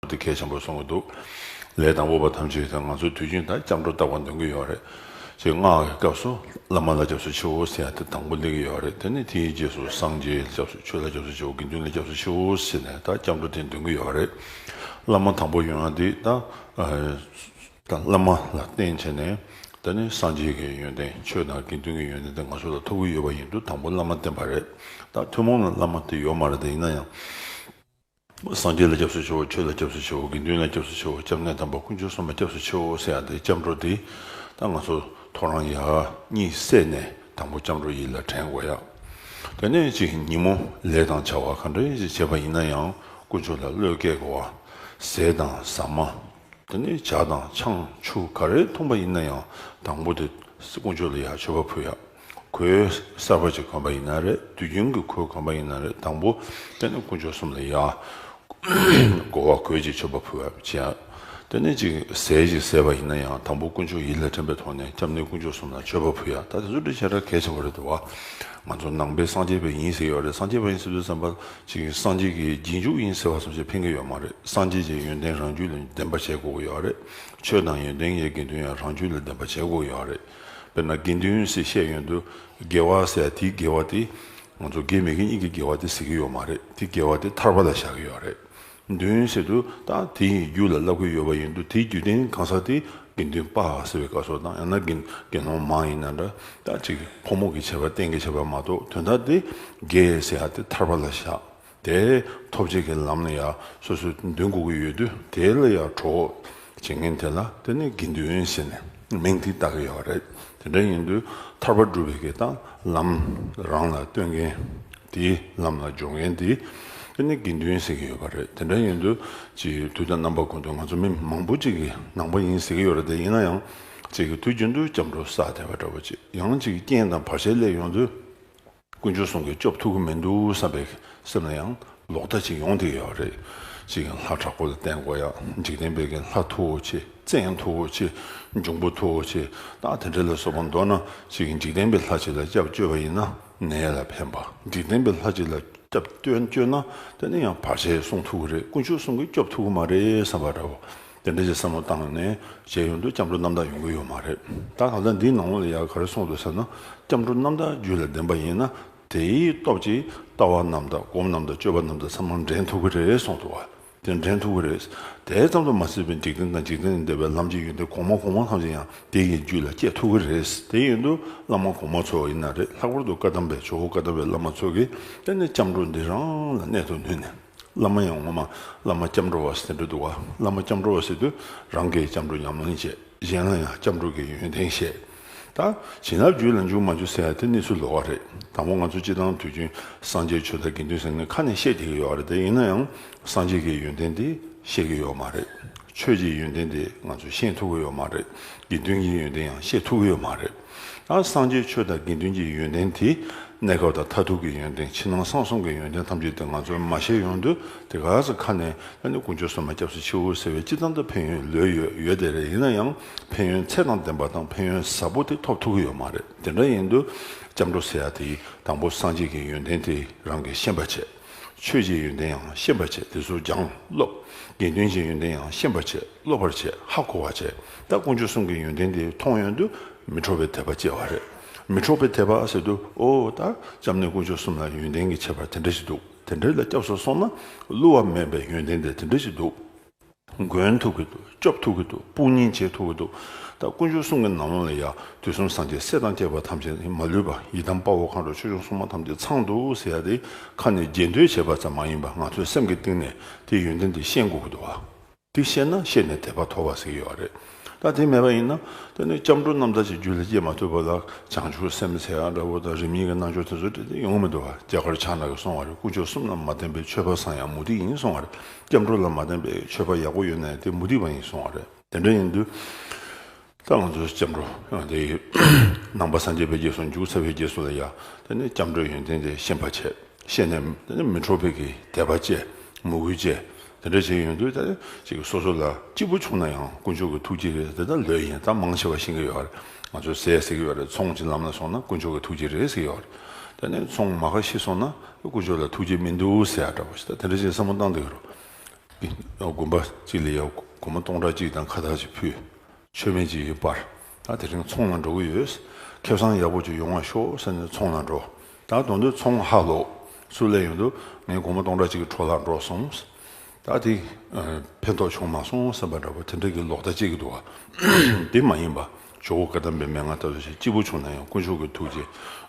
འདི་གལ་ཆེན་པོར་སོང་གི་འདུག་ལས་དང་དབུ་བ་ཐམས་ཅད་དང་ང་ཚོ་དུས་རྒྱུན་དང་སྐྱབས་འགྲོ་བཏགས་པ་འདོན་གྱི་ཡོད་རེད། ཅེས་སྔགས་ཀྱི་སྐབས་སུ་བླ་མ་ལ་སྐྱབས་སུ་མཆིའོ་ཟེར་ཡང་དེ་དང་པོ་འདེབས་ཀྱི་ཡོད་རེད་དེ་ནས་དེའི་རྗེས་སུ་སངས་རྒྱས་ལ་སྐྱབས་སུ་ཆོས་ལ་སྐྱབས་སུ་མཆིའོ་དགེ་འདུན་ལ་སྐྱབས་སུ་མཆིའོ་ཟེར་ནས་དང་སྐྱབས་འགྲོ་དེ་འདོན་གྱི་ཡོད་རེད། བླ་མ་དང་པོ་ཡོན་ཏན་དེ་དང། དང་བླ་མ་ལ་བརྟེན་བྱས་ནས་ད་ནི་སངས་རྒྱས་ཀྱི་ཡོན་ཏན་ཆོས་དང་དགེ་འདུན་གྱི་ཡོན་ཏན་དེ་ང་ཚོ་ལ་ཐོབ་ཀྱི་ཡོད་པ་ཡིན་དུས་དང་པོ་བླ་མ་བརྟེན་པ་རེད་དང་ཐུན་མོང་ལ་བླ་མ་དེ་ཡོད་མ་རེད་ད་ཡིན་ན་ཡང། སངས་རྒྱས་ལ་སྐྱབས་སུ་མཆིའོ་ཆོས་ལ་སྐྱབས་སུ་མཆིའོ་དགེ་འདུན་ལ་སྐྱབས་སུ་མཆིའོ་སྐྱབས་གནས་དམ་པ་དཀོན་མཆོག་གསུམ་ལ་སྐྱབས་སུ་མཆིའོ་ཟེར་ཡང་དེ་སྐྱབས་འགྲོ་འདི་ད་ང་ཚོ་ཐོ་རངས་ཡག་གཉིད་སད་ནས་དང་པོ་སྐྱབས་འགྲོ་ཡིད་ལ་དྲན་དགོས་ཡག་དེ་ནས་ཅིག་ཉིན་མོ་ལས་དང་བྱ་བ་ག་འདྲ་ཞིག་བྱེད་པ་ཡིན་ན་ཡང་དཀོན་མཆོག་ལ་བློས་བཀལ་དགོས་བ་ཟས་དང་ཟ་མ་དེ་ནས་བྱ་དང་ཆང་ཆུ་ག་རེ་འཐུང་པ་ཡིན་ན་ཡང་དང་པོ་དེ་དཀོན་མཆོག་ལ་ཡག་མཆོད་པ་ཕུལ་ཡག། གོས་གསར་པ་ཅིག་གོན་པ་ཡིན་ན་རེད་དུས་རྒྱུན་གྱི་གོས་གོན་པ་ཡིན་ན་རེད་དང་པོ་དཔེ་ན་དཀོན་མཆོག་གསུམ་ལ་ཡང། སྒོ་བ་གོས་ཅིག་མཆོད་པ་ཕུལ་བ་ཅི་ཡང། ལྟེ་གནས་ཅིག་ཟས་ཅིག་ཟས་པ་ཡིན་ན་ཡང་དང་པོ་དཀོན་མཆོག་ཡིད་ལ་དྲན་པའི་ཐོག་ནས་སྐྱབས་གནས་དཀོན་མཆོག་གསུམ་ལ་མཆོད་པ་ཕུལ་ཡ་ད་དེ་ཚོ་འདྲི་བྱེད་ར་གས་ཆེ་བ་རེད་དུ་བ། ང་ཚོ་ནང་པའི་སངས་རྒྱས་པའི་ཡིན་ཟེར་གྱི་བ་རེད་སངས་རྒྱས་པ་ཡིན་ཟེར་དུས་བསམ་པ་ཅིག་སངས་རྒྱས་ཀྱི་རྗེས་འཇུག་ཡིན་ཟེར་བ་ཚོ་ཅིག་ཕན་གྱི་ཡོད་མ་རེད་སངས་རྒྱས་ཀྱི་ཡོན་ཏན་རང་རྒྱུད་ལ་ལྡན་པ་བྱེད་དགོས་ཀྱི་ཡོད་རེད་ཆོས་དང་ཡོན་ཏན་ཡའི་དགེ་འདུན་ཡང་རང་རྒྱུད་ལ་ལྡན་པ་བྱེད་དགོས་ཀྱི་ཡོད་རེད། དཔེར་ན་དགེ་འདུན་ཞེས་བཤད་ཡོན་དུ་དགེ་བ་ཟེར་ཡ་དེའི་དགེ་བ་དེ་ང་ཚོ་དགེ་མི་དགེ་གཉིས་ཀྱི་དགེ་བ་དེ་ཟེར་གྱི་ཡོད་མ་རེད་དེ་དགེ་བ་དེ་ཐར་པ་ལ་བཞག་གི་ཡོད་རེད། འདུན་ཟེར་དུས་ད་དེ་ཡི་རྒྱུད་ལ་བསླབ་གི་ཡོད་པ་ཡིན་དུས་དེའི་རྒྱུད་ལྡན་གང་ཟག་དེ་དགེ་འདུན་དཔའ་ཟེར་བའི་བཀའ་སོགས་དང་ཡང་ན་དགེ་དགེ་སློང་མ་ཡིན་ན་འདྲ་ད་ཅིག་ཕོ་མོ་གི་བྱས་པ་བསྟན་གི་བྱས་པ་མ་གཏོགས་དོན་དག་དེ་དགེ་ཟེར་ཡ་དེ་ཐར་པ་ལ་བཞག་དེའི་ཐོབ་བྱེད་ཀྱི་ལམ་ལ་ཡང་སོ་སོའི་འདུན་འགུག་གི་ཡོད་དུས་དེ་ལ་ཡང་གྲོགས་བྱེད་མཁན་དེ་ལ་དེ་ནི་དགེ་འདུན་ཞེས་ནས་མིང་དེ་བཏགས་ཀྱི་ཡོད་པ་རེད། དེ་འདྲ་ཡིན་དུས་ཐར་པ་སྒྲུབ་པའི་གེགས་དང་ལམ་རང་ལ་སྟོན་མཁན་དེ་ལམ་ལ་སྦྱོར་མཁན་དེ་དེ་ནི་དགེ་འདུན་ཟེར་གྱི་ཡོད་པ་རེད། དེ་འདྲ་ཡིན་དུས་ཅིའི་དུས་དང་རྣམ་པ་ཀུན་ཏུ་ང་ཚོ་མི་མང་པོ་གཅིག་གི་ནང་པ་ཡིན་ཟེར་གྱི་ཡོད་རེད་དེ་ཡིན་ན་ཡང་གཅིག་གི་དུས་རྒྱུན་དུ་སྐྱབས་འགྲོ་བསགས་བསྡད་པ་འདྲ་བོ་ཅིག་ཡང་གཅིག་གི་རྐྱེན་དང་བར་ཆད་སླེབས་ཡོང་དུས། དཀོན་མཆོག་སྲུང་གི་སྐྱོབ་ཐུབ་ཀྱི་མི་འདུག་བསམ་པའི་སེམས་ལ་ཡང་ལོག་ལྟ་ཅིག་ཡོང་དེ་ཡོད་རེད། གཅིག་གིས་ལྷ་དྲག་པོ་ལ་བསྟེན་དགོས་ཡ། འཇིག་རྟེན་པས་ཀྱི་ལྷ་མཐུ་བོ་ཆེ་བཙན་མཐུ་བོ་ཆེ་འབྱུང་པོ་མཐུ་བོ་ཆེ་སྟག་དེ་འདྲ་ལ་སོགས་པ་འདོར་ན་གཅིག་གིས་འཇིག་རྟེན་པའི་ལྷ་གཅིག་ལ་སྐྱབས་བཅོལ་བ་ཡིན་ན་ནད་ལ་ཕན་པ་འཇིག་རྟེན་པའི་ལྷ་གཅིག་ལ་སྐྱབས་བཅོལ་ན་དེ་ནི་ཡང་བར་ཆད་སྲུང་ཐུབ་ཀྱི་རེད་དཀོན་མཆོག་སྲུང་གི་སྐྱོབ་ཐུབ་ཀྱི་མ་རེད་བསམ་པ་འདྲ་བོ་དེ་འདྲ་ཞིག་བསམ་བློ་བཏང་ནས་བྱས་ཡོང་དུས་སྐྱབས་འགྲོ་རྣམ་དག་ཡོང་གི་ཡོད་མ་རེད་ད་གང་ལྟར་འདིའི་ནང་ལོགས་ལ་ཡར་ག་རེ་སོང་འདུག་ཟེར་ན་སྐྱབས་འགྲོ་རྣམ་དག་རྒྱུད་ལ་ལྡན་པ་ཡིན་ན་དེའི་སྟོབས་ཀྱིས་ལྟ་བ་རྣམ་དག་སྒོམ་རྣམ་དག་སྤྱོད་པ་རྣམ་དག་ཚང་མ་འདྲེན་ཐུབ་ཀྱི་རེད་གསུངས་འདུག་བ་དེ་འདྲེན་ཐུབ་ཀྱི་རེད་དེ་ཙམ་དུ་མ་ཟད་པའི་འཇིག་རྟེན་དང་འཇིག་རྟེན་ལས་འདས་པའི་ལམ་གྱི་ཡོན་ཏན་གོང་མ་གོང་མ་ཐམས་ཅད་ཡང་དེ་ཡི་རྒྱུད་ལ་སྐྱེ་ཐུབ་ཀྱི་རེད་དེ་ཡོན་ཏུ་བླ་མ་གོང་མ་ཚོ་ཡིན་ན་རེད་ལྷག་པར་དུ་བཀའ་གདམས་པའི་ཇོ་བོ་བཀའ་གདམས་པའི་བླ་མ་ཚོ་གིས་ད་ནི་སྐྱབས་འགྲོ་འདི་རང་ལ་གནད་དུ་བསྣུན་ནས། བླ་མ་ཡང་ངོ་མ་བླ་མ་སྐྱབས་འགྲོ་བ་ཟེར་འགྲོ་འདུག་བླ་མ་སྐྱབས་འགྲོ་བ་ཟེར་དུས་རང་གིས་སྐྱབས་འགྲོ་ཉམས་སྣང་བྱེད་གཞན་ལ་ཡང་སྐྱབས་འགྲོ་གི་ཡོན་ཏན་བཤད། ད་བྱིན་རླབས་རྒྱུད་ལ་འཇུག་མ་འཇུག་ཟེར་ཡ་དེ་གནས་ཚུལ་ལོག་ག་རེད་དང་པོ་ང་ཚོ་སྤྱི་བཏང་དུས་རྒྱུན་སངས་རྒྱས་ཆོས་དང་དགེ་འདུན་ཟེར་ནི་ཁ་ནས་བཤད་བསྡད་ཀྱི་ཡོད་རེད་ཡིན་ན་ཡང་སངས་རྒྱས་ཀྱི་ཡོན་ཏན་དེ་བཤད་ཀྱི་ཡོད་མ་རེད་ཆོས་ཀྱི་ཡོན་ཏན་དེ་ང་ཚོ་ཤེས་ཐུབ་ཀྱི་ཡོད་མ་རེད་དགེ་འདུན་གྱི་ཡོན་ཏན་ཡང་ཤེས་ཐུབ་ཀྱི་ཡོད་མ་རེད། ཨང། སངས་རྒྱས་ཆོས་དང་དགེ་འདུན་གྱི་ཡོན་ཏན་དེ་གནས་སྐབས་དང་མཐར་ཐུག་གི་ཡོན་ཏན་ཕྱི་ནང་གསང་གསུམ་གྱི་ཡོན་ཏན་ཐམས་ཅད་དེ་ང་ཚོས་མ་ཤེས་ཡོང་དུས་དེ་ག་ས་ཁ་ནས་ཨ་ནི་དཀོན་མཆོག་སྲུང་མ་སྐྱབས་སུ་མཆིའོ་ཟེར་བའི་ཅི་ཙམ་དུ་ཕན་ཡོན་ལོས་ཡོད་ཡོད་དེ་རེད་ཡིན་ན་ཡང་ཕན་ཡོན་ཚད་དང་ལྡན་པ་དང་ཕན་ཡོན་ཟབ་པོ་དེ་ཐོབ་ཐུག་གི་ཡོད་མ་རེད་དེ་འདྲ་ཡིན་དུས་སྐྱབས་འགྲོ་ཟེར་ཡ་དེ་དང་པོ་སངས་རྒྱས་ཀྱི་ཡོན་ཏན་དེ་རང་གིས་ཤེས་པ་བྱས། ཆོས་ཀྱི་ཡོན་ཏན་ཡང་ཤེས་པར་བྱས་དེ་ཚུར་ཀྱང་སློབ། དགེ་འདུན་གྱི་ཡོན་ཏན་ཡང་ཤེས་པར་བྱས་སློབ་པར་བྱས་ཧ་གོ་བར་བྱས་ད་དཀོན་མཆོག་གསུམ་གྱི་ཡོན་ཏན་འདི་མཐོང་ཡོན་དུ་མི་འཕྲོག་པའི་དད་པ་སྐྱེ་བ་རེད། མི་འཕྲོག་པའི་དད་པ་ཟེར་དུས་ཨོ་ད་ཅམ་ནས་དཀོན་མཆོག་གསུམ་ལ་ཡོན་ཏན་གྱི་ཁྱད་པར་དེ་འདྲ་ཞིག་འདུག་དེ་འདྲའི་ལ་སྐྱབས་སུ་སོང་ན་བསླུ་བ་མེད་པའི་ཡོན་ཏན་དེ་དེ་འདྲ་ཞིག་འདུག། མགོན་ཐུག་གི་འདུག་སྐྱོབ་ཐུག་གི་འདུག་དཔུང་གཉེན་བྱེད་ཐུག་གི་འདུག་ད་དཀོན་མཆོག་གསུམ་གྱི་ནང་ལོགས་ལ་ཡང་དུས་གསུམ་སངས་རྒྱས་སྲས་དང་བཅས་པ་ཐམས་ཅད་མ་ལུས་པ་ཡི་དམ་དཔའ་བོ་མཁའ་འགྲོ་ཆོས་སྐྱོང་སྲུང་མ་ཐམས་ཅད་ཚང་འདུག་ཟེར་ཡ་དེ་ཁ་ནས་རྒྱས་འདོད་བྱས་པ་ཙམ་མ་ཡིན་པ་ང་ཚོས་སེམས་ཀྱི་གཏིང་ནས་དེའི་ཡོན་ཏན་དེ་ཤེས་འགོ་གི་འདུག་བ། འདི་ཤེས་ན་ཤེས་ནས་དད་པ་མཐོ་བ་ཟིག་ཡོད་རེད། ད་དེ་མེད་པ་ཡིན་ན་དེ་ནི་སྐྱབས་འགྲོ་རྣམས་ད་ཅིའི་རྒྱུ་ལས་སྐྱེས་མ་ཐུབ་པ་ལ་བྱང་ཆུབ་སེམས་དཔའ་ཚེ་འགའ་འདྲ་བོ་དང་རིམ་གཉིས་ཀྱི་རྣལ་འབྱོར་དེ་ཚོ་དེ་དེ་ཡོང་མི་འདུག་བ་རྒྱ་གར་ཕྱག་ན་གི་སོང་བ་རེད་དཀོན་མཆོག་གསུམ་ལ་མ་བརྟེན་པའི་ཆོས་པ་བཟང་ཡང་མུ་སྟེགས་ཡིན་སོང་བ་རེད་སྐྱབས་འགྲོ་ལ་མ་བརྟེན་པའི་ཆོས་པ་ཡག་པོ་ཡོད་ནའི་དེ་མུ་སྟེགས་པ་ཡིན་སོང་བ་རེད་དེ་འདྲ་ཡིན་དུས་ད་ང་ཚོའི་སྐྱབས་འགྲོ་དེ་ནང་པ་སངས་རྒྱས་པའི་རྗེས་སུ་འཇུག་ཚར་བའི་རྗེས་སུ་ལ་ཡ་དེ་ནི་སྐྱབས་འགྲོའི་ཡོན་ཏན་དེ་ཤེས་པ་བྱས་ཤེས་ནས་དེ་ནི་མི་འཕྲོག་པའི་གི་དད་པ་བཅས་མོས་གུས་བཅས། དེ་འདྲ་བྱས་ཡོང་དུས་ད་ཅིག་སོ་སོ་ལ་སྐྱིད་པོ་བྱུང་ན་ཡང་དཀོན་མཆོག་གི་ཐུགས་རྗེ་རེད་འདི་ལྟར་ལོས་ཡིན་གཏམ་མང་ཆེ་བ་བཤད་ཀྱི་ཡོད་རེད་ང་ཚོ་ཟས་ཟེར་གྱི་ཡོད་རེད་ཚོང་གྱི་ལམ་ལ་སོང་ན་དཀོན་མཆོག་གི་ཐུགས་རྗེ་རེད་ཟེར་ཡོད་རེད་དེ་ནས་ཚོང་མ་ཁ་ཤི་སོང་ན་དཀོན་མཆོག་ལ་ཐུགས་རྗེ་མི་འདུག་ཟེར་ཡག་འདྲ་བོ་ཞིག་ད་དེ་འདྲ་བྱས་བསམ་བློ་བཏང་དུས་རོ། དགོན་པ་གཅིག་ལ་ཡ་དགོན་མོ་སྟོང་ཕྲག་གཅིག་དང་ཁ་ཐག་ཅིག་ཕུད། མཆོད་མེ་ཅིག་ཡོད་པར་ད་དེ་རིང་ཚོང་ལ་འགྲོ་གི་ཡོད། ཁེབས་སང་ཡག་པོ་ཅིག་ཡོང་བ་ཤོག་ཟེར་ནས་ཚོང་ལ་འགྲོ། ད་གདོང་དུས་ཚོང་ཧ་ལོ། སུ་ལས་ཡོང་དུས་ངས་དགོང་མོ་སྟོང་ཕྲག་གཅིག་གི་གྲོ་ལ་འགྲོ་སོང། ད་དེ་ཕན་ཐོགས་བྱུང་མ་སོང་སེམས་པ་འདྲ་པོ་དེ་འདྲ་གི་ལོག་ལྟ་བྱེད་ཀྱི་འདུག་བ། དེ་མ་ཡིན་པ་ཇོ་བོ་བཀའ་གདམས་པའི་མན་ངག་ལྟ་བུ་ཞིག་སྐྱིད་པོ་བྱུང་ན་ཡང་དཀོན་མཆོག་གི་ཐུགས་རྗེ།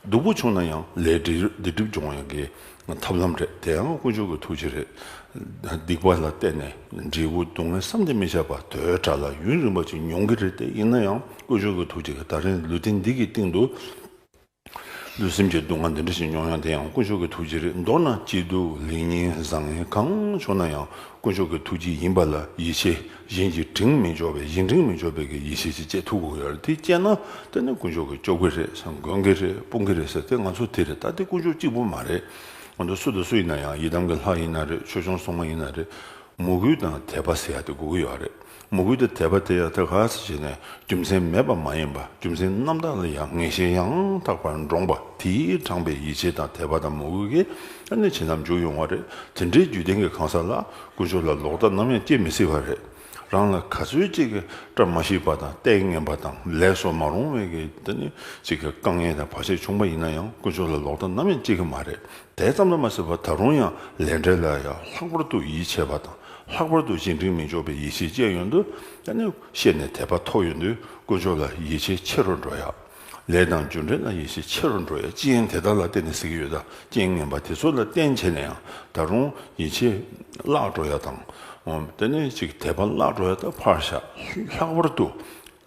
སྡུག་པོ་བྱུང་ན་ཡང་ལས་འདི་སྒྲིབ་སྦྱོང་བ་ཡང་དགེ། ཐབས་ལམ་རེད། དེ་ཡང་དཀོན་མཆོག་གི་ཐུགས་རྗེ་རེད། སྡིག་པ་ལ་བརྟེན་ནས་འབྲས་བུ་སྡུག་བསྔལ་བསམ་གྱིས་མི་ཁྱབ་པ་དོའི་དགྲ་ལ་ཡུན་རིང་བ་ཅིག་མྱོང་གི་རེད་དེ་ཡིན་ན་ཡང་དཀོན་མཆོག་གི་ཐུགས་རྗེས་ད་རིང་ལུས་རྟེན་འདི་གི་སྟེང་དུ་ལུས་སེམས་ཀྱི་སྡུག་བསྔལ་འདི་འདྲ་ཞིག་མྱོང་ཡང་དེ་ཡང་དཀོན་མཆོག་གི་ཐུགས་རྗེ་རེད་མདོར་ན་སྐྱིད་སྡུག་ལེགས་ཉེས་བཟང་ངན་གང་བྱུང་ན་ཡང་དཀོན་མཆོག་གི་ཐུགས་རྗེ་ཡིན་པ་ལ་ཡིད་ཆེས་གཞན་གྱི་དྲིང་མི་འཇོག་པའི་གཞན་དྲིང་མི་འཇོག་པའི་གི་ཡེ་ཤེས་ཀྱི་སྤྱད་ཐུགས་དགོས་ཡར་དེ་སྤྱད་ན་དེ་ནི་དཀོན་མཆོག་གི་སྐྱོབ་གི་རེད་བསམ་དགོན་གི་རེད་དཔུང་གི་རེད་ཟེར་དེ་ང་ཚོ་དེ་རེད་ད་དེ་དཀོན་མཆོག་གཅིག་པུ་མ་རེད་ང་ཚོ་སུ་དང་སུ་ཡིན་ན་ཡང་ཡི་དམ་གི་ལྷ་ཡིན་ན་རེད་ཆོས་སྐྱོང་སྲུང་མ་ཡིན་ན་རེད་མོས་གུས་དང་དད་པ་ཟེར་ཡག་དེ་དགོས་གི་ཡོད་རེད་མོས་གུས་དང་དད་པ་དེ་ཡང་ཐད་ཁ་ས་བྱས་ནས་རྒྱུ་མཚན་མེད་པ་མ་ཡིན་པ་རྒྱུ་མཚན་རྣམ་དག་ལ་ཡང་ངེས་ཤེས་ཡང་དག་པར་འདྲོངས་པ་དེའི་དྲངས་པའི་ཡིད་ཆེས་དང་དད་པ་དང་མོས་གུས་ཀྱིས་ནི་བྱིན་རླབས་འཇུག་ཡོང་བ་རེད་དེ་འདྲའི་རྒྱུད་ལྡན་གྱི་གང་ཟག་ལ། ཀུན་སྤྱོད་ལ་ལོག་ལྟ་ནམ་ཡང་སྐྱེ་མི་སྲིད་པ་རེད། རང་ལ་ག་ཚོད་ཅིག་གིས་བཀྲ་མ་ཤིས་པ་དང་ལྟས་ངན་པ་དང་ལས་བསོག་མ་རུང་བའི་གི་དེ་ནི་ཅིག་གི་དཀའ་ངལ་དང་བར་ཆད་བྱུང་པ་ཡིན་ན་ཡང་ཀུན་སྤྱོད་ལ་ལོག་ལྟ་ནམ་ཡང་སྐྱེ་གི་མ་རེད་དེ་ཙམ་ལ་མ་ཟེར་བར་ད་རུང་ཡང་ལས་འབྲས་ལ་ཡང་ལྷག་པར་དུ་ཡིད་ཆེས་པ་དང་ལྷག་པར་དུ་གཞན་དྲིང་མི་འཇོག་པའི་ཡིད་ཆེས་བསྐྱེད་ཡོང་དུས་དེ་ནི་བཤད་ནས་དད་པ་ཐོག་ཡོང་དུས་ཀུན་སྤྱོད་ལ་ཡིད་ཆེས་ཆེ་རུ་འགྲོ་ཡག། ལས་དང་རྒྱུ་འབྲས་ལ་ཡིད་ཆེས་ཆེ་རུ་འགྲོ་ཡ་ཅི་ཡིན་དེ་དག་ལ་བརྟེན་ནས་གཟིགས་ཡོད་ད་རྐྱེན་ངན་པ་དེ་ཚོ་ལ་བརྟེན་བྱས་ནས་ཡང་ད་རུང་ཡིད་ཆེས་བརླག་འགྲོ་ཡ་དང། དེ་ནས་ཅིག་དད་པ་བརླག་འགྲོ་ཡ་ད་ཕར་བཞག་ལྷག་པར་དུ་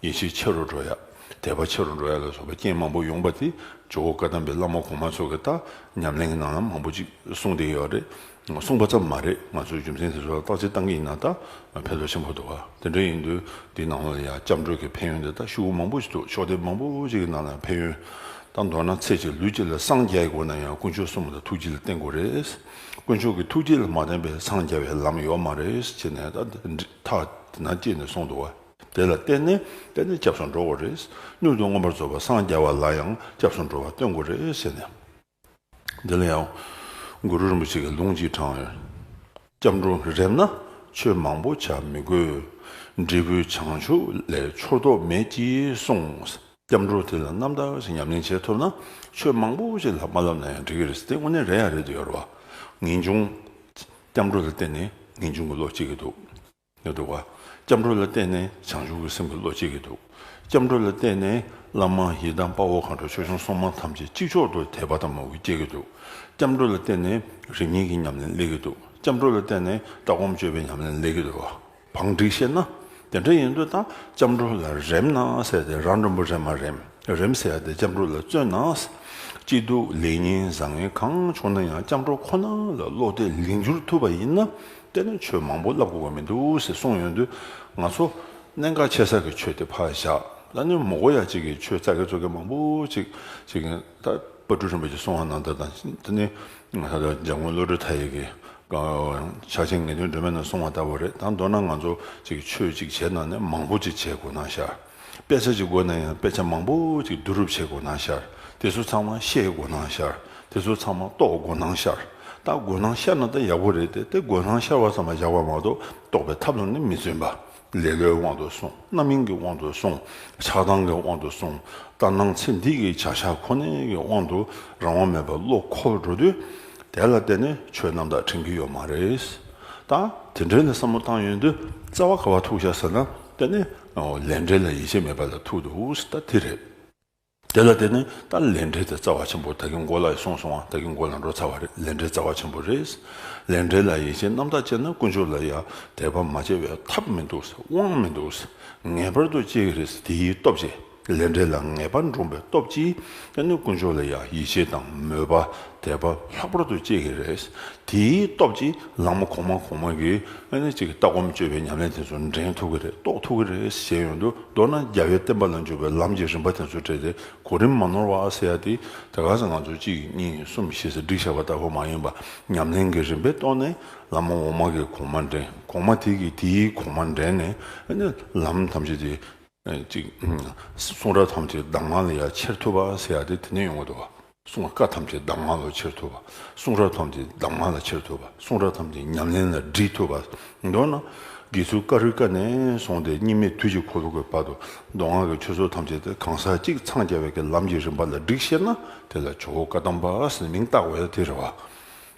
ཡིད་ཆེས་ཆེ་རུ་འགྲོ་ཡ་དད་པ་ཆེ་རུ་འགྲོ་ཡ་ལ་སོགས་པའི་རྐྱེན་མང་པོ་ཡོང་པ་དེ་ཇོ་བོ་བཀའ་གདམས་པའི་བླ་མ་གོང་མ་ཚོ་གི་ད་ཉམས་ལེན་གྱི་ནང་ལ་མང་པོ་ཅིག་གསུངས་བསྡད་ཡོད་རེད། གསུངས་པ་ཙམ་མ་རེད་ང་ཚོས་རྒྱུ་མཚན་དེ་ཚོ་ལ་བརྟག་དཔྱད་བཏང་གི་ཡིན་ན་ད་ཕན་ཐོགས་ཆེན་པོ་འདུག་དེ་འདྲ་ཡིན་དུས་འདིའི་ནང་ལ་ཡང་སྐྱབས་འགྲོས་ཀྱི་ཕན་ཡོན་དེ་དག་ཤུགས་བུ་མང་པོ་ཞིག་འདུག་ཕྱོགས་སྡེ་མང་པོ་ཞིག་གི་ནང་ལ་ཡང་ཕན་ཡོན་དང་མདོར་ན་ཚེ་གཅིག་ལུས་གཅིག་ལ་སངས་རྒྱས་དགོས་ན་ཡང་དཀོན་མཆོག་གསུམ་ལ་ཐུགས་རྗེ་ལ་བརྟེན་དགོས་རེད། དཀོན་མཆོག་གི་ཐུགས་རྗེ་ལ་མ་བརྟེན་པའི་འཚང་རྒྱ་བའི་ལམ་ཡོད་མ་རེད་ཅེས་ནས་ད་ཐག་དེ་ན་ཅེས་ནས་སོང་འདུག་དེ་ལ་བརྟེན་ནས་བརྟེན་ནས་སྐྱབས་སུ་འགྲོ་དགོས་རེད། མྱུར་དུ་མངོན་པར་རྫོགས་པ་སངས་རྒྱ་བ་ལ་ཡང་སྐྱབས་སུ་འགྲོ་བ་སྟོན་དགོས་རེད་ཟེར་ནས། འདི་ལ་ཡང་གུ་རུ་རིན་པོ་ཆེ་གི་ལུང་གཅིག་དྲངས་ཡོད། སྐྱབས་འགྲོ་རེམས་ན་ཆོས་མང་པོ་བྱ་མི་དགོས། འབྲས་བུ་བྱང་ཆུབ་ལས་འཆོར་དོགས་མེད་ཀྱིས་གསུངས། སྐྱབས་འགྲོ་དེ་ལ་རྣམ་དག་ཅིག་ཉམས་ལེན་བྱེད་ཐུབ་ན་ཆོས་མང་པོ་ཅིག་ལ་མ་བསླབས་ན་ཡང་འགྲིག་གི་རེད་དེ་དངོས་གནས་རེད་ཡ་རེད་འདོད་ཡོད་རེད་བ། ངེས་འབྱུང། སྐྱབས་འགྲོ་ལ་བརྟེན་ནས་ངེས་འབྱུང་གི་བློ་སྐྱེ་གི་འདུག། ནས་འདུག་བ། སྐྱབས་འགྲོ་ལ་བརྟེན་ནས་བྱང་ཆུབ་ཀྱི་སེམས་ཀྱི་བློ་གཅིག་གིས་འདུག། སྐྱབས་འགྲོ་ལ་བརྟེན་ནས་བླ་མ་ཡི་དམ་དཔའ་བོ་མཁའ་འགྲོ་ཆོས་སྐྱོང་སྲུང་མ་ཐམས་ཅད་གཅིག་ཆོག་ཏུ་དད་པ་དང་མོས་གུས་སྐྱེ་གི་འདུག། སྐྱབས་འགྲོ་ལ་བརྟེན་ནས་རིག་གཉིས་ཀྱི་ཉམས་ལེན་སླེབ་གི་འདུག་སྐྱབས་འགྲོ་ལ་བརྟེན་ནས་ལྟ་སྒོམ་སྤྱོད་པའི་ཉམས་ལེན་སླེབ་གི་འདུག་བང་སྒྲིག་བཤད་ན། དེ་འདྲ་ཡིན་དུས་ད་སྐྱབས་འགྲོ་ལ་རེམ་ན་ཟེར་ཏེ་རང་མགྲོན་པོ་རེམ་མ་རེམ་རེམ་ཟེར་ཏེ་སྐྱབས་འགྲོ་ལ་བརྩོན་ན། སྐྱིད་སྡུག་ལེགས་ཉེས་བཟང་ངན་གང་བྱུང་ན་ཡང་སྐྱབས་འགྲོ་ཁོ་ན་ལ་བློ་གཏད་ལིང་བསྒྱུར་ཐུབ་པ་ཡིན་ན་བསྟན་ནས་ཆོས་མང་པོ་བསླབ་དགོས་པ་མི་འདུག་ཟེར་གསུངས་ཡོད་དུས་ང་ཚོ། གནད་འགག་ཆེ་ས་ཀྱི་ཆོས་དེ་ཕར་བཞག་ལ་སྣོན་མོ་གོ་ཡ་གཅིག་གིས་ཆོས་རྩ་གལ་གཙོ་གལ་མང་པོ་ཅིག་བྱེད་ཀྱིན་ད་པ་སྤྲུལ་རིན་པོ་ཆེ་གསུང་བ་ནང་ད་དང་ད་ནི་ད་ལོ་འཇམ་མགོན་བློ་གྲོས་མཐའ་ཡས་ཀྱིས་ཕྱག་ཆེན་ངེས་དོན་སྒྲོན་མེ་ནང་གསུང་བ་ལྟ་བུ་རེད་ད་མདོར་ན་ང་ཚོ་གཅིག་ཆོས་གཅིག་བྱས་ནང་ནས་མང་པོ་ཅིག་བྱེད་དགོས་སྣང་ཤར། དཔེ་ཆ་གཅིག་མགོ་ན་ཡང་དཔེ་ཆ་མང་པོ་ཅིག་བསྡུ་རུབ་བྱེད་མགོ་ན་ཤར། དེ་ཚོ་ཚང་མ་ཤེས་མགོ་ན་ཤར། དེ་ཚོ་ཚང་མ་རྟོགས་མགོ་ན་ཤར། ད་མགོ་ན་ཤར་ན་ད་ཡག་པོ་རེད་དེ་དེ་མགོ་ན་ཤར་བ་ཙམ་ལ་བཞག་པ་མ་གཏོགས་རྟོགས་པའི་ཐབས་ལ་ནི་མི་བརྩོན་པ། ལེ་ལོའི་དབང་དུ་སོང་རྣམ་སྨིན་གྱི་དབང་དུ་སོང་ཆགས་སྡང་གི་དབང་དུ་སོང་ལྟར་སྣང་ཚེ་འདི་གི་བྱ་བཞག་ཁོ་ནའི་གི་དབང་དུ་རང་དབང་མེད་པར་བློ་འཁོར་འགྲོ་དུས། དེ་ལ་བརྟེན་ནས་ཆོས་རྣམ་དག་དྲན་གྱི་ཡོད་མ་རེད། ད་དེ་འདྲའི་ལ་བསམ་བློ་བཏང་ཡོད་དུས་རྩ་བ་ག་བ་ཐུག་བཞག་ཟེར་ན་དེ་ནི། ལས་འབྲས་ལ་ཡིད་ཆེས་མེད་པ་ལ་ཐུག་དེ་འུ་སི་ད་དེ་རེད། དེ་ལ་བལྟས་ནས་ད་ལས་འབྲས་དེ་རྩ་བ་ཆེན་པོ་ད་གིན་མགོ་ལ་ཡི་སོང་སོང་བ་ད་གིན་མགོ་ལ་འགྲོ་ཚར་བ་རེད་ལས་འབྲས་རྩ་བ་ཆེན་པོ་རེད། ལས་འབྲས་ལ་ཡིད་ཆེས་རྣམ་དག་བྱས་ན་དཀོན་མཆོག་ལ་ཡང་དད་པ་མ་བྱས་བས་ཐབས་མི་འདུག་དབང་མི་འདུག་ངེས་པར་དུ་སྐྱེ་གི་རེད་དེའི་སྟོབས་ཆེ། ལས་འབྲས་ལ་ངེས་པར་འགྲོངས་པའི་སྟོབས་ཀྱིས་ཀྱང་ནི་དཀོན་མཆོག་ལ་ཡང་ཡིད་ཆེས་དང་མོས་པ་དད་པ་ལྷག་པར་དུ་སྐྱེ་གི་རེད། དེའི་སྟོབས་ཀྱིས་ལང་མོ་གོང་མ་གོང་མ་གི་ཨ་ནི་ཅིག་ལྟ་སྒོམ་སྤྱོད་པའི་ཉམས་ལེན་དེ་ཚོ་འདྲེན་ཐུབ་གི་རེད་རྟོགས་ཐུབ་གི་རེད་ཞེས་ཡོང་དུ་མདོར་ན་རྒྱལ་བའི་བསྟན་པ་ལ་འཇུག་པའི་ལམ་གྱི་རིམ་པ་དེ་ཚོ་བྲལ་ཏེ་གོ་རིམ་མ་ནོར་བ་ཨ་སེ་ཡ་ཏི་དེ་ག་ས་ང་ཚོ་གཅིག་གཉིས་གསུམ་བཞི་ཟེར་སྒྲིག་བྱས་པ་ལྟ་བུ་མ་ཡིན་པར་ཉམས་ལེན་གྱི་རིམ་པས་རྟོགས་ནས་ལ་མོ་འོག་མ་གི་གོང་མ་འདྲེན་གོང་མ་དེ་གིས་དེའི་གོང་མ་འདྲེན་ནས་ཨ་ནི་ལམ་ཐམས་ཅད་དེ། ཅིག། གསུང་རབ་ཐམས་ཅད་གདམས་ངག་ལ་ཡང་ཕྱིར་ཐུབ་པ་ཟེར་ཡག་དེ་དེ་ནས་ཡོང་བ་དང། གསུང་བཀའ་ཐམས་ཅད་གདམས་ངག་ལ་ཕྱིར་ཐུབ་པ། གསུང་རབ་ཐམས་ཅད་གདམས་ངག་ལ་ཕྱིར་ཐུབ་པ། གསུང་རབ་ཐམས་ཅད་ཉམས་ལེན་ལ་འདྲིས་ཐུབ་པ། མདོར་ན། དགེ་ཚུལ་བཀའ་རུས་ཀ་ནས་བཟུང་སྟེ་གཉིས་མེད་དུས་ཀྱི་འཁོར་ལོ་དགུའི་བར་དུ་མདོ་སྔགས་ཀྱི་ཆོས་ཚུལ་ཐམས་ཅད་དེ་གང་ཟག་གཅིག་འཚང་རྒྱ་བའི་ཀྱི་ལམ་གྱི་རིམ་པ་ལ་བསྒྲིགས་ཤེ་ན་དེ་ལ་ཇོ་བོ་བཀའ་གདམས་པ་ཟེར་མིང་བཏགས་བས་དེ་རེད་བ།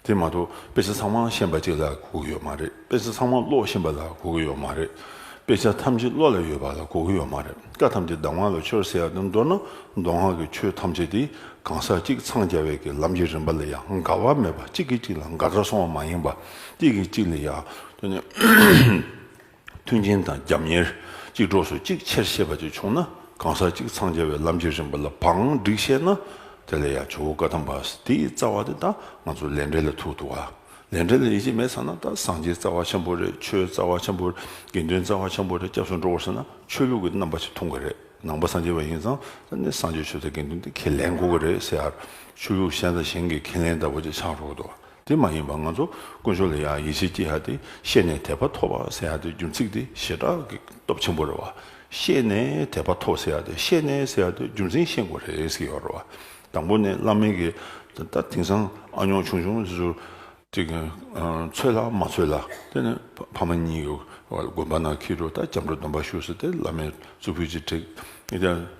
དེ་མ་གཏོགས་དཔེ་ཆ་ཚང་མ་ཤེས་པ་གཅིག་ལ་གོ་གི་ཡོད་མ་རེད། དཔེ་ཆ་ཚང་མ་ཀློག་ཤེས་པ་ལ་གོ་གི་ཡོད་མ་རེད། དཔེ་ཆ་ཐམས་ཅད་བློ་ལ་ཡོད་པ་ལ་གོ་གི་ཡོད་མ་རེད། བཀའ་ཐམས་ཅད་གདམས་ངག་ལ་ཆོས་ཟེར་ཡ་དེ་མདོར་ན་མདོ་སྔགས་ཀྱི་ཆོས་ཐམས་ཅད་དེ་གང་ཟག་གཅིག་འཚང་རྒྱ་བས་ཀྱི་ལམ་གྱི་རིམ་པ་ལ་ཡང་དགའ་བ་མེད་པ་གཅིག་གིས་གཅིག་ལ་དགའ་དགའ་སོང་བ་མ་ཡིན་པ་གཅིག་གིས་གཅིག་ལ་ཡང་མཐུན་རྐྱེན་དང་རྒྱབ་གཉེར། གཅིག་གྲོགས་སུ་གཅིག་ཆེར་ཤེས་པ་བཅས་བྱུང་ན་གང་ཟག་གཅིག་འཚང་རྒྱ་བའི་ལམ་གྱི་རིམ་པ་ལ་བག་འགྲིག་ཤེས་ན། དེ་ལས་ཡང་ཇོ་བོ་བཀའ་ཐང་པ་དེའི་རྩ་བ་དེ་དང་ང་ཚོ་ལས་འབྲས་ལ་ཐུག་འདུག་ག་ལས་འབྲས་ལ་ཡིད་ཆེས་མེད་ཟེར་ན་ད་སངས་རྒྱས་རྩ་བ་ཆེན་པོ་རེད་ཆོས་རྩ་བ་ཆེན་པོ་རེད་དགེ་འདུན་རྩ་བ་ཆེན་པོ་རེད་སྐྱབས་སུ་འགྲོ་ཟེར་ན་ཆོས་ལུགས་ཀྱི་རྣམ་པ་ཞིག་འཐུང་གི་རེད་ནང་པ་སངས་རྒྱས་པ་ཡིན་ཙང་ད་ནི་སངས་རྒྱས་ཆོས་དང་དགེ་འདུན་དེ་ཁས་ལེན་དགོས་ཀྱི་རེད་ཟེར་ཆོས་ལུགས་གཞན་དང་གཞན་གྱི་ཁས་ལེན་ལྟ་བུ་ཅིག་ཆགས་འགྲོ་གི་འདུག་ག་དེ་མ་ཡིན་པར་ང་ཚོ་དཀོན་མཆོག་ལ་ཡང་ཡིད་ཆེས་སྐྱེ་ཡག་དེ་ཤེས་ནས་དད་པ་ཐོབ་པ་ཟེར་ཡག་དེ་རྒྱུ་མཚིག་དེ་ཞེ་དྲག་གི་སྟོབས་ཆེན་པོ་རེད་བ། ཤེས་ནས་དད་པ་ཐོབ་ཟེར་ཡག་དེ་ཤེས་ནས་ཟེར་ཡག་དེ་རྒྱུ་མཚན་ཤེས་དགོས་རེད་ཟེར་ཡག་རེད་བ། དང་པོ་ནས་བླ་མེད་ཀྱི་ད་དེང་སང་ཨ་ཉོག་ཆུང་ཆུང་དེ་ཚོ་ཅིག་ཚོད་ལ་མ་ཚོད་ལ་དེ་ནས་ཕ་མ་གཉིས་ཀྱི་དགོན་པ་ནང་ཁྱི་རུ་ད་སྐྱབས་འགྲོ་སྡོམ་པ་ཞུ་ཟེར་དེ་བླ་མའི་གཙུག་ཕུད་ཅིག་བྲེགས།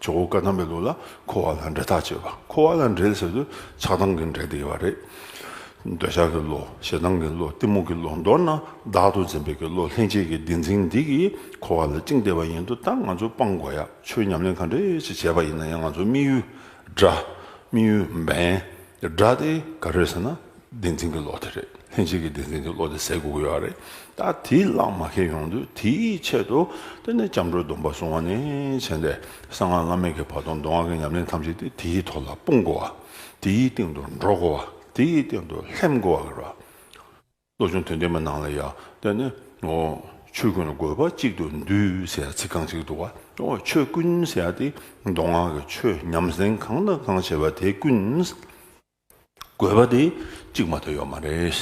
ཇོ་བོ་ཀ་དམ་པའི་ལུགས་ལ་འཁོར་བ་ལ་འབྲེལ་ཐག་བཅད་པ་འཁོར་བ་ལ་འབྲེལ་ཟེར་དུས་ཆགས་སྡང་གི་འབྲེལ་དེ་ཡོད་པ་རེད། འདོད་ཆགས་ཀྱི་བློ་ཞེ་སྡང་གི་བློ་གཏི་མུག་གི་བློ་མདོར་ན་བདག་ཏུ་འཛིན་པའི་ཀྱི་བློ་ལྷན་སྐྱེས་ཀྱི་བདེན་འཛིན་འདི་ཀྱིས་འཁོར་བ་ལ་བཅིངས་བསྡད་པ་ཡིན་དུ་ད་ང་ཚོས་སྤང་དགོས་ཡ་ཆོས་ཉམས་ལེན་ག་འདྲས་ཅིག་བྱས་པ་ཡིན་ན་ཡང་ང་ཚོ་དམིགས་ཡུལ་འདྲ་དམིགས་ཡུལ་འབེན་འདྲ་དེ་ག་རེད་ཟེར་ན་བདེན་འཛིན་གྱི་བློ་དེ་རེད་ལྷན་སྐྱེས་ཀྱི་བདེན་འཛིན་གྱི་བློ་དེ་ཟད་དགོས་ཀྱི་ཡོད་རེད་ད་དེ་བླངས་མ་ཁེལ་ཡོང་དུས་དེའི་ཆེད་དུ་དེ་ནས་སྐྱབས་འགྲོའི་སྡོམ་པ་བཟུང་བ་ནས་བྱས་ནས་གསང་སྔགས་བླ་མེད་ཀྱི་བར་དུ་མདོ་སྔགས་ཀྱི་ཉམས་ལེན་ཐམས་ཅད་དེ་དེའི་ཐོག་ལ་སྤུངས་དགོས་བ་དེའི་སྟེང་དུ་འགྲོ་དགོས་བ་དེའི་སྟེང་དུ་ལྷན་དགོས་བ་རེད་བློ་ཆུང་དོན་ལྡན་པའི་ནང་ལ་ཡང་དེ་ནི་ཆོས་ཀུན་དགོས་པ་གཅིག་ཏུ་འདུས་ཟེར་ཚིག་རྐང་གཅིག་འདུག་བ་ཆོས་ཀུན་ཟེར་ཏེ་མདོ་སྔགས་ཀྱི་ཆོས་ཉམས་ལེན་གང་དང་གང་བྱེད་པ་དེ་ཀུན། དགོས་པ་དེ་གཅིག་མ་ཐོན་ཡོད་མ་རེད།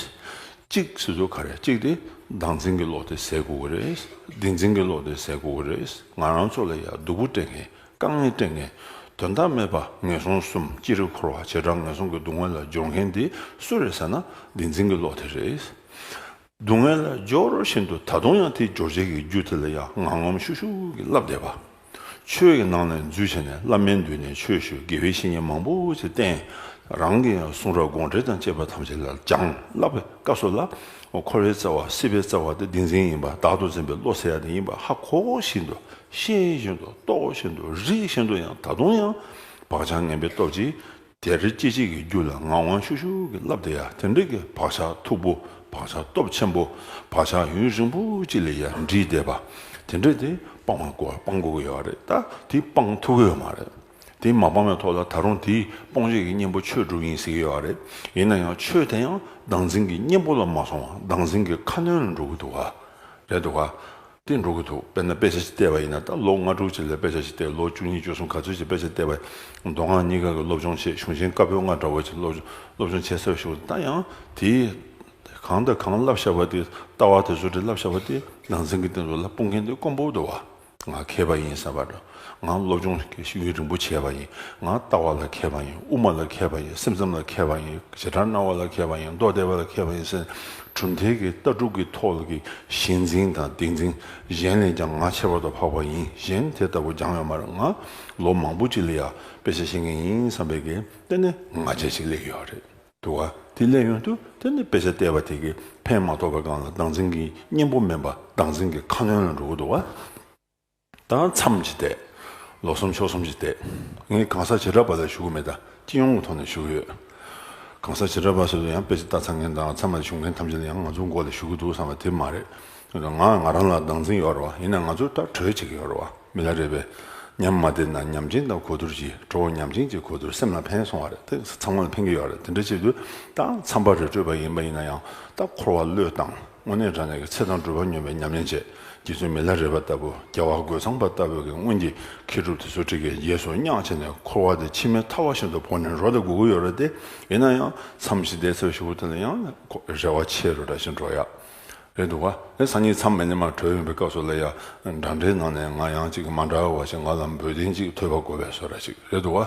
གཅིག་སོ་སོ་ག་རེ་གཅིག་དེ་བདག་འཛིན་གྱི་བློ་དེ་ཟད་དགོས་ཀྱི་རེད། སྡིག་འཛིན་གྱི་བློ་དེ་ཟད་དགོས་ཀྱི་རེད། ང་རང་ཚོ་ལ་ཡ་སྡུག་པོ་སྤྲད་མཁན་དཀའ་ངལ་སྤྲད་མཁན་དོན་དག་མེད་པ་ངན་སོང་གསུམ་ཅི་རིགས་འཁོར་བ་བྱེ་བྲག་ངན་སོང་གི་སྡུག་བསྔལ་ལ་སྦྱོར་མཁན་དེ་སུ་རེད་ཟེར་ན་སྡིག་འཛིན་གྱི་བློ་དེ་རེད། སྡུག་བསྔལ་ལ་སྦྱོར་བཞིན་དུ་ད་དུང་ཡང་དེའི་སྦྱོར་བྱེད་ཀྱི་རྒྱུ་དེ་ལ་ཡང་ངམ་ངམ་ཤུགས་ཤུགས་ཀྱིས་བསླབ་བསྡད་པ། ཆོས་ཀྱི་ནང་ནས་འཛུལ་བྱས་ནས་བླ་མའི་མདུན་ནས་ཆོས་ཞུ་དགེ་བའི་བཤེས་གཉེན་མང་པོ་ཞིག་བསྟེན། རང་གི་གསུང་རབ་དགོངས་འགྲེལ་དང་བཅས་པ་ཐམས་ཅད་ལ་སྦྱངས་བསླབ་པའི་སྐབས་སུ་ལ་འཁོར་བའི་རྩ་བ་སྲིད་པའི་རྩ་བ་དེ་བདེན་འཛིན་ཡིན་པ་བདག་ཏུ་འཛིན་པའི་བློ་ཟེར་ཡ་དེ་ཡིན་པ་ཧ་གོ་བཞིན་དུ་ཤེས་བཞིན་དུ་རྟོགས་བཞིན་དུ་རིག་བཞིན་དུ་ཡང་ད་དུང་ཡང་བག་ཆགས་ངན་པའི་སྟོབས་ཀྱིས། དེར་སྐྱེ་མཆེད་ཀྱི་རྒྱུད་ལ་ངག་དབང་ཤུགས་ཤུགས་ཀྱིས་བསླབ་དེ་ཡང་དེ་འབྲེལ་གྱི་བག་ཆགས་མཐུག་པོ་བག་ཆགས་སྟོབས་ཆེན་པོ་བག་ཆགས་ཡུན་རིང་པོ་གཅིག་ལས་ཡར་འདྲིས་བསྡད་པ་དེ་འདྲས་དེ་སྤང་བར་དགོས་སྤང་དགོས་ཀྱི་ཡོད་རེད་ད་དེ་སྤང་ཐུབ་ཀྱི་ཡོད་མ་རེད་དེ་མ་སྤང་བའི་ཐོག་ལ་ད་རུང་དེ་སྤོང་བྱེད་ཀྱི་གཉེན་པོ་ཆོས་དྲུག་ཡིན་ཟེར་གྱི་ཡོད་རེད་ཡིན་ན་ཡང་ཆོས་དེ་ཡང་བདག་འཛིན་གྱི་གཉེན་པོ་ལ་མ་སོང་བར་བདག་འཛིན་གྱི་ཁ་གནོན་ལ་འགྲོ་གི་འདུག་ག་རེད་འདུག་ག། སྟེ་འགྲོ་གི་འདུག་དཔེར་ན་དཔེ་ཆ་ཞིག་བལྟས་པ་ཡིན་ན་ད་ལོ་ལྔ་དྲུག་ཅིག་ལ་དཔེ་ཆ་ཞིག་བལྟས་ལོ་བཅུ་གཉིས་བཅུ་གསུམ་ག་ཚོད་ཅིག་དཔེ་ཆ་བལྟས་པ་ཡིན་མདོ་སྔགས་གཉིས་ཀ་གི་སློབ་སྦྱོང་ཆེད་གཞུང་ཆེན་བཀའ་པོད་ལྔ་འདྲ་བོ་ཅིག་སློབ་སྦྱོང་བྱེད་ས་ཞུགས་ད་ཡང་དེས་གང་དང་གང་བསླབ་བཞག་པ་དེ་ལྟ་བ་དེ་ཚོ་དེ་བསླབ་བཞག་པ་དེ་ནང་ཚན་གྱི་སྟེང་དུ་ལ་སྤུངས་མཁན་དེ་དཀོན་པོ་དུ་བ་ང་མཁས་པ་ཡིན་བསམ་པ་འདྲ་ང་སློབ་སྦྱོང་ལ་མཁས་ཤིང་ཡུན་རིང་པོ་བྱས་པ་ཡིན། ང་ལྟ་བ་ལ་མཁས་པ་ཡིན། དབུ་མ་ལ་མཁས་པ་ཡིན། སེམས་ཙམ་ལ་མཁས་པ་ཡིན། བྱེ་བྲག་སྣང་བ་ལ་མཁས་པ་ཡིན། མདོ་སྡེ་པ་ལ་མཁས་པ་ཡིན་ཟེར་ནས་གྲུབ་མཐའི་གི་ལྟ་གྲུབ་ཀྱི་ཐོག་གི་གཞི་འཛིན་དང་བདེན་འཛིན་གཞན་ལས་ཀྱང་ང་ཁྱད་པར་དུ་འཕགས་པ་ཡིན་གཞན་དེ་ལྟ་བུ་སྦྱང་བའི་མར་ང་ལོ་མང་པོ་ཅིག་ལ་ཡང་དཔེ་ཆ་ཤེས་མཁན་ཡིན་བསམ་པའི་གི་ལྟ་ནི་ང་རྗེས་ཅིག་སླེབས་ཡོད་རེད་འདུག་ག་དེ་སླེབས་ཡོང་དུས་དེ་ནི་དཔེ་ཆ་བལྟས་པ་དེ་གི་ཕན་མ་ཐོགས་པའི་སྒང་ལ་སྡང་འཛིན་གི་གཉེན་པོ་མིན་པ་སྡང་འཛིན་གི་ཁ་གནོན་ལ་འགྲོ་གི་འདུག་ག། ད་མཚམས་ཀྱི་བལྟས། ལོ་གསུམ་ཕྱོགས་གསུམ་གྱི་བལྟས། ངས་གང་ཟག་བྱེ་བྲག་པ་ལ་ཞུ་གི་མེད། སྤྱི་ཡོངས་ཀྱི་ཐོག་ནས་ཞུ་གི་ཡོད། གང་ཟག་བྱེ་བྲག་པ་སོ་སོ་ཡང་དཔེ་ཆ་ལྟ་ཚར་མཁན་དང་ཚང་མ་ལས་ཞུ་མཁན་ཐམས་ཅད་ལ་ཡང་ང་ཚོའི་མགོ་ལ་ཞུ་གི་འདུག་བསམ་པ་དེ་མ་རེད། ང་ང་རང་ལ་སྡང་འཛིན་ཡོད་རེད་བ། ཡིན་ན་ང་ཚོས་ལྟ་གྲོས་བྱེད་ཀྱི་ཡོད་རེད་བ། མི་ལ་རེ་བས། ཉམས་མ་བདེ་ན་ཉམས་ཅན་དང་གོ་བསྡུར་གྱིས་གྲོ་བོ་ཉམས་ཅན་གྱི་གོ་བསྡུར་སེམས་ལ་ཕན་སོང་བ་རེད་དེ་ཚང་མ་ལ་ཕན་གྱི་ཡོད་རེད་དེ་འདྲ་བྱས་དུས་ད་མཚམས་པ་རེ་སྤྲོད་པ་ཡིན་པ་ཡིན་ན་ཡང་ད་འཁོར་བ་བློས་བཏང། དངོས་གནས་དྲང་གནས་ཀྱི་ཚེ་དང་སྒྲུབ་པ་སྙོམས་པའི་ཉམས་ལེན་བྱས། རྗེ་བཙུན་མི་ལ་རས་པ་ལྟ་བུ་རྒྱལ་བ་རྒོད་ཚང་པ་ལྟ་བུ་གྱི་སྔོན་གྱི་མཁས་གྲུབ་དེ་ཚོ་ཁྲི་ཀའི་རྗེས་སུ་བསྙག་བྱས་ནས་འཁོར་བ་དེ་ཕྱི་མའི་མཐའ་བ་བཞིན་དུ་བོར་ནས་རོ་དེ་དགུ་དགུ་ཡོད་རེད་དེ། ཡིན་ན་ཡང་མཚམས་བཞི་ཟླའི་ཚེས་བཞི་བོ་དེ་ལ་ཡང་རེ་བ་ཆེ་རུ་འདྲ་ཞིང་འགྲོ་ཡག་རེད་འདུག་བ། ངས་སང་ཉིན་མཚམས་མེད་ནས་མར་བྲོས་ཡོང་པའི་སྐབས་སུ་ལ་ཡ་འདྲ་འདྲའི་ནང་ནས་ང་ཡང་ཅིག་མ་འདྲ་བ་ཞིག་ང་ལ་འབོལ་གདན་ཅིག་ཐོད་པ་དགོ་བའི་སོ་ར་ཞིག་རེད་འདུག་བ།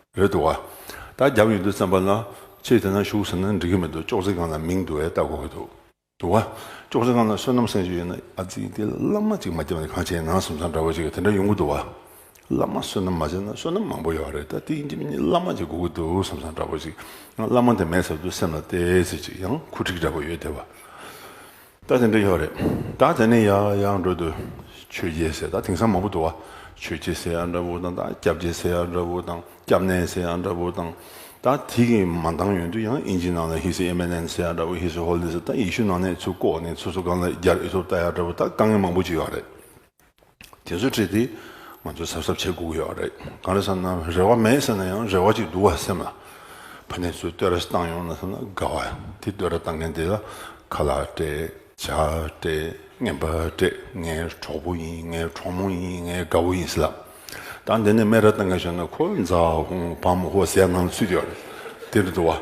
ཡོད་འདུག་ད་རྒྱབ་ཡོད་འདུག་བསམ་པ་ལ། ཁྱེད་དེ་ན་བཞུགས་ཟེར་ན་འགྲིག་གི་མི་འདུག་ཅོག་ཙེ་སྒང་ལ་མིང་འདུག་བས་ལྟ་དགོས་ཀྱི་འདུག་འདུག་བ། ཅོག་ཙེ་སྒང་ལ་བསོད་ནམས་སེང་ཞིག་ཡོད་ན་ཨ་ཙི་དེ་བླ་མ་ཅིག་མ་བརྒྱབ་ན་གང་བྱས་ནང་སེམས་ཚང་འདྲ་བོ་ཅིག་དེ་འདྲ་ཡོང་གི་འདུག་བ། བླ་མ་བསོད་ནམས་མ་བྱས་ན་བསོད་ནམས་མང་པོ་ཡོད་རེད་ད་དེའི་རྒྱབ་གཉིས་བླ་མ་ཅིག་དགོས་ཀྱི་འདུག་སེམས་ཚང་འདྲ་བོ་ཅིག་ཡང་བླ་མ་དེ་མེད་ཟེར་དུས་སེམས་ལ་བལྟས་ཚེ་ཅིག་ཡང་ཁུ་འཕྲིག་འདྲ་བོ་ཡོད་དེ་བ། ད་དེ་འདྲ་ཡོད་རེད་ད་དེ་ནས་ཡང་ཡང་འགྲོ་དུས་ཆོས་རྒྱལ་སེར་ད་དེང་སང་མང་པོ་འདུག་བ་ཆོས་རྗེ་སེར་ཡག་འདྲ་བོ་དང་ད་སྐྱབས་རྗེ་སེར་ཡག་འདྲ་བོ་དང་སྐྱབས་གནས་སེར་ཡག་འདྲ་བོ་དང་ད་དེ་གི་མ་འདང་ཡོད་དུས་ཡང་ཨིན་ཇི་ནང་ལ་ཧི་སི་ཨེ་མེ་ནན་སེར་ཡག་འདྲ་བོ་ཧི་སི་ཧོ་ལི་སི་ད་ཡེ་ཤུ་ནང་ནས་ཚུར་བཀོག་ནས་ཚུར་སུ་གང་ལ་རྒྱར་ཨེ་ཐུབ་ད་ཡག་འདྲ་བོ་ད་དཀའ་ངལ་མང་པོ་ཅིག་ཡོད་རེད། དེ་ཚོ་བྲིས་ཏེ་ང་ཚོ་གཟབ་གཟབ་བྱེད་སྒུག་ཡོད་རེད། གང་རེད་བསམ་ན་རེ་བ་མེད་ཟེར་ན་ཡང་རེ་བ་ཅིག་འདུག་བ་སེམས་ལ། ཕ་ནས་ཚུར་བསྟོད་ར་བཏང་ཡོང་ན་བསམ་ན་དགའ་བ། དེ་བསྟོད་ར་བཏང་མཁན་དེ་ལ་ཁ་ལག་སྤྲད། ཇག་སྤྲད། རྔན་པ་སྤྲད། ངའི་གྲོགས་པོ་ཡིན་ངའི་གྲོགས་མོ་ཡིན་ངའི་དགའ་བོ་ཡིན་ཟེར་ལ། ད་འདི་ནས་སྨད་ར་བཏང་མཁན་བྱུང་ན་ཁོ་འཛའ་ཧོ་བམ་ཧོ་ཟེར་ཡ་ངང་ཚུད་ཡོད་རེད། དེ་རེད་འདུག་བ།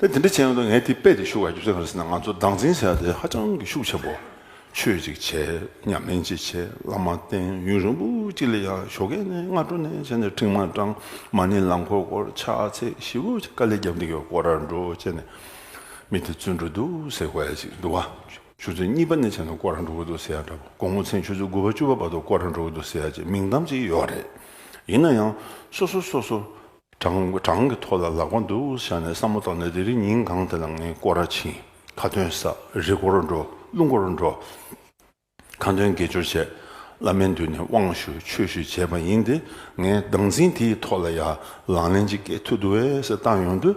དེ་འདྲ་བྱས་ཡོང་དུས་ངས་དེ་དཔེ་དེ་བཞུགས་བར་བརྒྱུད་ཚར་ག་ཟེར་ན་ང་ཚོ་སྡང་འཛིན་བྱས་ཏེ་ཧ་ཅང་གི་ཤུགས་ཆེན་པོ། ཆོས་ཅིག་བྱས་སྙམ་ལན་ཅིག་བྱས་བླ་མ་བསྟེན་ཡུན་རིང་པོ་ཅིག་ལ་ཡང་ཞོགས་ཁའི་ནས་སྔ་དྲོ་ནས་བྱས་ནས་འཕྲིན་མ་གྲངས་མ་ནི་རླངས་འཁོར་སྐོར་ཆགས་ཚེ་ཤི་བོ་ཆེ་དཀའ་ལས་རྒྱབ་འདུག་གི་སྐོར་ར་འགྲོ་བྱས་ནས་མི་དེ་བཙོན་འགྲོ་འདུག་ཟེར་བ་ཡང་ཅིག་འདུག་ཆུ་ཚོད་གཉིས་པ་ནས་བྱས་ནས་སྐོར་ར་འགྲོ་གི་འདུག་ཟེར་ཡང་འདྲ་དགོང་མོ་ཚེས་ཆུ་ཚོད་དགུ་བ་བཅུ་བ་བར་དུ་སྐོར་ར་འགྲོ་གི་འདུག་ཟེར་ཡང་ཅིག་མིང་གཏམ་ཅིག་ཡོད་རེད། ཡིན་ན་ཡང་སོ་སོ་སོ་སོ་བྲང་གི་ཐོག་ལ་ལག་པ་འདུག་བཞག་ནས་བསམ་བློ་བཏང་ནས་དེ་རིང་ཉིན་གང་དེ་ལ་ངས་སྐོར་ར་ཕྱིན། ཁ་འདོན་བསགས། རི་སྐོར་འགྲོ། ཀླུ་འགོར་འགྲོ། ཁ་འདོན་དགེ་སྦྱོར་བྱས། བླ་མའི་མདུན་ནས་དབང་ཞུ་ཆོས་ཞུ་བྱས་པ་ཡིན་ཏེ་ངས་སྡང་འཛིན་དེའི་ཐོག་ལ་ཡར་ལངས་ལན་གཅིག་སྐྱེལ་ཐུབ་འདུག་བས་སེ་བཏང་ཡོང་དུས།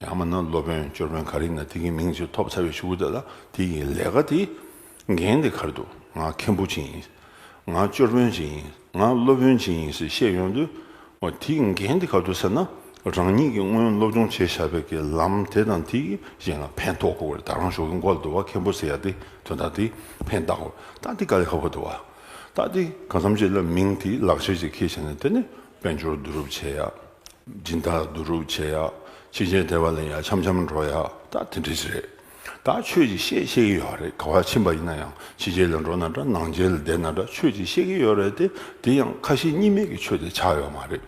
ཡང་མིན་ན་སློབ་དཔོན་ཅོར་བོན་ག་རེ་ན་དེ་གི་མིང་ཅིག་ཐོབ་ཚར་བའི་ཤུ་གུ་དེ་ལ་དེ་གི་ལས་ཀ་དེ་འགན་དེ་གར་འདུག་ང་མཁན་པོ་ཅིག་ཡིན། ང་ཅོར་བོན་ཅིག་ཡིན། ང་སློབ་དཔོན་ཅིག་ཡིན་ཟེར་བཤད་ཡོང་དུས། འོ་དེ་གི་འགན་དེ་ག་འདུག་ཟེར་ན། རང་ཉིད་ཀྱིས་སྔོན་སློབ་སྦྱོང་བྱས་བཞག་པའི་གི་ལམ་དེ་དང་དེ་གི་གཞན་ལ་ཕན་ཐོག་གོ་བར་ད་རང་ཞོག་གི་མགོ་ལ་དུ་བ་མཁན་པོ་ཟེར་ཡག་དེ་དོན་དག་དེ་ཕན་བཏགས་གོ་བཏགས་དེ་ག་ལས་ཧ་གོ་དུ་བ་བཏགས་དེ་ག་མཚམས་བྱས་ལ་མིང་དེ་ལག་ཁྱེར་ཅིག་ཁེལ་བྱས་ནས་དེ་ནས་དཔལ་འབྱོར་བསྡུ་རུབ་བྱས་ཡག། སྦྱིན་བདག་བསྡུ་རུབ་བྱེད་ཡག་ཕྱིན་ཆད་དེ་བ་ལན་ཡང་འཆམ་འཆམ་འགྲོ་ཡག་ད་དེ་འདྲས་ཞིག་རེད་ད་ཁྱོད་ཀྱིས་བཤད་ཤེས་ཀྱི་ཡོད་རེད་ག་བ་ཕྱིན་པ་ཡིན་ན་ཡང་ཕྱི་རྒྱལ་ལ་འགྲོ་ན་འདྲ་ནང་རྒྱལ་ལ་བསྡད་ན་འདྲ་ཁྱོད་ཀྱིས་ཤེས་ཀྱི་ཡོད་རེད་དེ་དེ་ཡང་ཁ་ཞེ་གཉིས་མེད་ཀྱི་ཆོས་དེ་ཆགས་ཡོད་མ་རེད།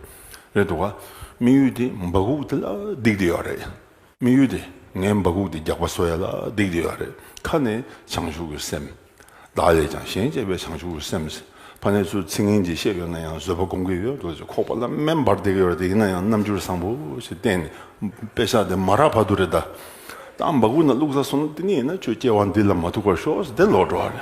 རེད་འདུག་ག་དམིགས་ཡུལ་དེ་འབག་སྐུག་དེ་ལ་བསྡིགས་ཏེ་ཡོད་རེད། དམིགས་ཡུལ་དེ་ངའི་འབག་གུག་དེ་རྒྱག་པ་སོ་ཡ་ལ་བསྡིགས་དེ་ཡོད་རེད་ཁ་ནི་བྱང་ཆུབ་ཀྱི་སེམས། བདག་ལས་ཀྱང་གཞན་གཅེས་པའི་བྱང་ཆུབ་ཀྱི་སེམས། ཕ་ནི་ཚུལ་ཚིག་ངན་གྱིས་བཤད་ཡོད་ན་ཡང་བཟོད་པ་སྒོམ་གྱི་ཡོད་འདུག་ཅེས་ཁོག་པ་ལ་སྨན་འབར་བསྡད་ཀྱི་ཡོད་རེད་ཡིན་ན་ཡང་རྣམ་འགྱུར་བཟང་པོ་ཞིག་བསྟན་ནས་དཔེ་ཆ་དེ་མ་རག་བར་དུ་རེད་ད། ད་འབག་གུག་ན་བླུགས་ས་སོང་ན་དེ་ནས་ཡིན་ན་ཁྱོད་སྐྱེ་བ་འདི་ལ་མ་ཐུག་པར་ཤོག་ཟེར་ཏེ་ལོག་འགྲོ་བ་རེད།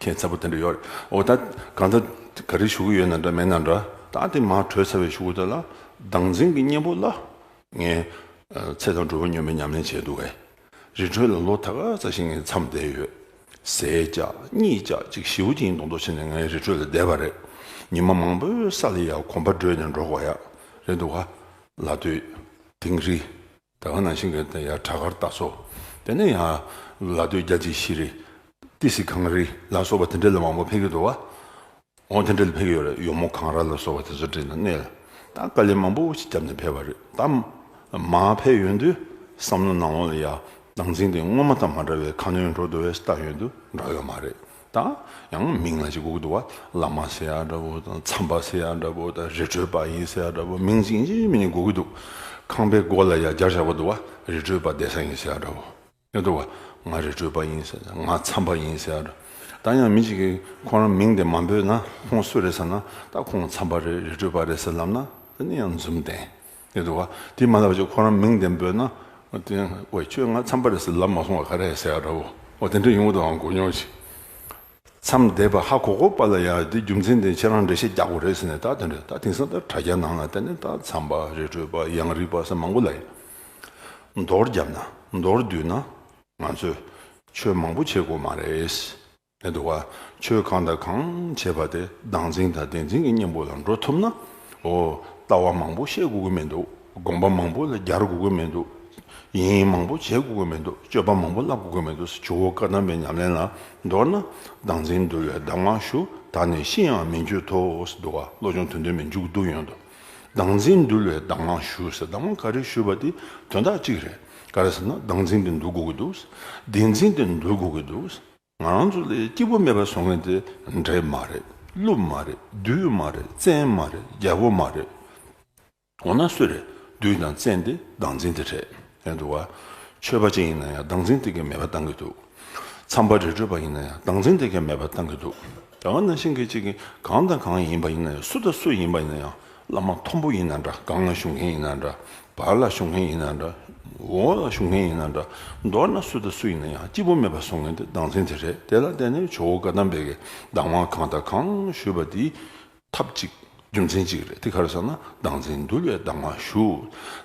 ཁྱེད་ཚ་པོ་དེ་འདྲ་ཡོད་རེད་འོ་ད་གང་ད་ག་རེ་ཞུ་གི་ཡོད་ན་འདྲ་མེད་ན་འདྲ་ད་དེ་མ་གྲོས་ཚ་བའི་ཞུ་གུ་དེ་ལ་སྡང་འཛིན་གི་གཉེན་པོ་ལ་ངའི་ཚེ་དང་གྲོ་བོ་སྨྱོན་པའི་ཉམས་ལེན་བྱས་འདུག་གས་རི་ཁྲོད་ལ་ལོ་ད་ག་ཚ་ཞིག་ངས་མཚམས་བསྡད་ཡོད་ཟས་བཅག་གཉིས་བཅག་གཅིག་བཞི་བོ་གཅིག་མདོག་མདོག་བྱས་ནས་ངའི་རི་ཁྲོད་ལ་བསྡད་པ་རེད་ཉི་མ་མང་པོའི་ས་ལ་ཡ་གོམ་པ་བགྲོད་ནས་འགྲོ་ག་ཡ་རེད་འདུག་ག་ལ་དུས་དེང་རི། ད་ག་ནང་བཞིན་གྱི་ཡ་བྲག་གར་སྟག་སོགས་དེ་ནས་ཡང་ལ་སྟོད་རྒྱ་ཆེ་ཤི་རི། ཏི་སི་གངས་རི་ལ་སོགས་པ་དེ་འདྲ་ལ་མང་པོ་ཕེབས་ཀྱི་འདུག་བ། འོང་དེ་འདྲ་ལ་ཕེབས་ཀྱི་ཡོད་རེད་ཡོ་མོ་གངས་ར་ལ་སོགས་པ་དེ་ཚོ་དྲན་ན་གནས་ད་ག་ལས་མང་པོ་ཞིག་རྒྱབ་ནས་ཕེབས་པ་རེད་དམ། མ་ཕེབས་ཡོད་དུས་བསམ་བློ་ནང་འོང་ལ་ཡ་བྲག་འཛིང་སྟེ་སྔོན་མ་དང་མ་འདྲ་བའི་ཁ་སྣོན་འགྲོ་འདོད་བའི་རྟགས་ཡོད་དུ་འདྲ་ཡོད་མ་རེད་དང། ཡང་མིང་ལ་ཅིག་གུག་འདུག་བ། བླ་མ་སེ་ཡ་འདྲ་བོ་དང་མཚམས་པ་སེ་ཡ་འདྲ་བོ་དང་རི་ཁྲོད་པ་ཡིན་སེ་ཡ་འདྲ་བོ་མིང་ཅིག་གཉིས་མི་གཉིས་གུག་གི་འདུག། ཁང་པའི་སྒོ་ལ་ཡ་བརྒྱ་བཞག་པ་འདུག་བ། རི་ཁྲོད་པ་བསྡད་ས་ཡིན་སེ་ཡ་འདྲ་བོ། ཡང་འདུག་བ། ང་རི་ཁྲོད་པ་ཡིན་སེ་ཡ་ང་མཚམས་པ་ཡིན་སེ་ཡ་འདྲ། དང་ཡང་མི་ཅིག་གིས་ཁོང་རང་མིང་དེ་མ་འབོད་ན་ཁོང་སུ་རེད་ཟེར་ན། ད་ཁོང་མཚམས་པ་རེད་རི་ཁྲོད་པ་རེད་ཟེར་ལབ་ན། དེ་ནི་ཡང་འཛུམ་བསྟན། ཡོད་འདུག་དེ་མ་ལབ་ཅིག་ཁོ་རང་མིང་དེ་འབོད་ན། བས་ཁྱོད་ང་འཚམས་པ་རེད་ཟེར་ལབ་མ་སོང་བ་ག་རེ་ཟེར་ཡག་འདྲ་བོ། དེ་འདྲ་ཡོང་གི་འདུག་གོ་མྱོང་ཅིག། མཚམས་བསྡད་པ་ཧ་གོ་གོ་པ་ལ་ཡང་དེ་རྒྱུ་མཚན་དེ་ཁྱེད་རང་འགྲེལ་བཤད་རྒྱག་དགོས་རེད་ཟེར་ནས་ད་དེ་འདྲ་ད་དེང་སང་ད་དྲ་རྒྱ་ནང་ལ་བལྟས་ན་ད་མཚམས་པ་རི་ཁྲོད་པ་གཡང་རིགས་པ་སོགས་མང་པོ་ལ་ཡོད། མདོར་བརྒྱབ་ན་མདོར་བསྡུས་ན་ང་ཚོས་ཆོས་མང་པོ་བྱེད་དགོས་མ་རེད། ལྷན་དུ་བ་ཆོས་གང་དང་གང་བྱེད་པ་དེ་བདག་འཛིན་དང་བདེན་འཛིན་གྱི་གཉེན་པོ་ལ་འགྲོ་ཐུབ་ན། འོ། ལྟ་བ་མང་པོ་བཤད་དགོས་ཀྱི་མི་འདུག་དགོངས་པ་མང་པོ་ལ་སྦྱར་དགོས་ཀྱི་མི་འདུག། ཡིན་མང་པོ་བྱེད་དགོས་ཀྱི་མི་འདུག་སྤྱོད་པ་མང་པོ་བསླབ་དགོས་ཀྱི་མི་འདུག་ཇོ་བོ་བཀའ་གདམས་པའི་ཉམས་ལེན་ལ་མདོར་ན། བདག་འཛིན་འདུལ་བའི་གདམས་ངག་ཞུ་དག་ནི་ཤི་ཡང་མི་འགྱོད་དོ་ཟེར་འདུག་བློ་སྦྱོང་དོན་སྟོན་མི་འཇུག་སྡུག་ཡོད་དོ། བདག་འཛིན་འདུལ་བའི་གདམས་ངག་ཞུ་ཟེར་གདམས་ངག་ག་རེ་ཞུས་པ་དེ་དོན་དག་གཅིག་རེད། ག་རེ་ཟེར་ན་བདག་འཛིན་དེ་འདུལ་དགོས་ཀྱི་འདུག་བདེན་འཛིན་དེ་འདུལ་དགོས་ཀྱི་འདུག། ང་རང་ཚོ་ལས་སྐྱིད་པོ་མེད་པ་བཟོ་མཁན་དེ་འདྲེ་མ་རེད་ཀླུ་མ་རེད་བདུད་མ་རེད་བཙན་མ་རེད་རྒྱལ་པོ་མ་རེད། འོ་ན་སུ་རེད་བདུད་དང་བཙན་དེ་སྡང་འཛིན་དེ་རེད་ཡ་འདུག་བ། ཆོས་པ་ཅིག་ཡིན་ན་ཡང་སྡང་འཛིན་དེ་གས་མེད་པ་བཏང་གི་འདུག། ཚངས་པ་རི་ཁྲོད་པ་ཡིན་ན་ཡང་སྡང་འཛིན་དེ་གས་མེད་པ་བཏང་གི་འདུག། རྒྱ་གར་ནང་བཞིན་གྱི་ཅིག་གིས་གང་དང་གང་ཡིན་པ་ཡིན་ན་ཡང་སུ་དང་སུ་ཡིན་པ་ཡིན་ན་ཡང་བླ་མ་མཐོན་པོ་ཡིན་ན་འདྲ་སྒང་ལ་བཞུགས་མཁན་ཡིན་ན་འདྲ་བར་ལ་བཞུགས་མཁན་ཡིན་ན་འདྲ་འོག་ལ་བཞུགས་མཁན་ཡིན་ན་འདྲ་མདོར་ན་སུ་དང་སུ་ཡིན་ན་ཡང་སྐྱིད་པོ་མེད་པར་བཟོ་ངེས་དེ་སྡང་ཚན་དེ་རེད་དེ་ལ་བརྟེན་ནས་ཇོ་བོ་བཀའ་གདམས་པའི་གདམས་དབང་གང་དང་གང་ཞུས་པ་དེ་ཐབས་ཅིག་རྒྱུ་མཚན་ཅིག་རེད་དེ་གར་ས་ན་སྡང་ཚན་འདུལ་བའི་གདམས་དབང་ཞུ་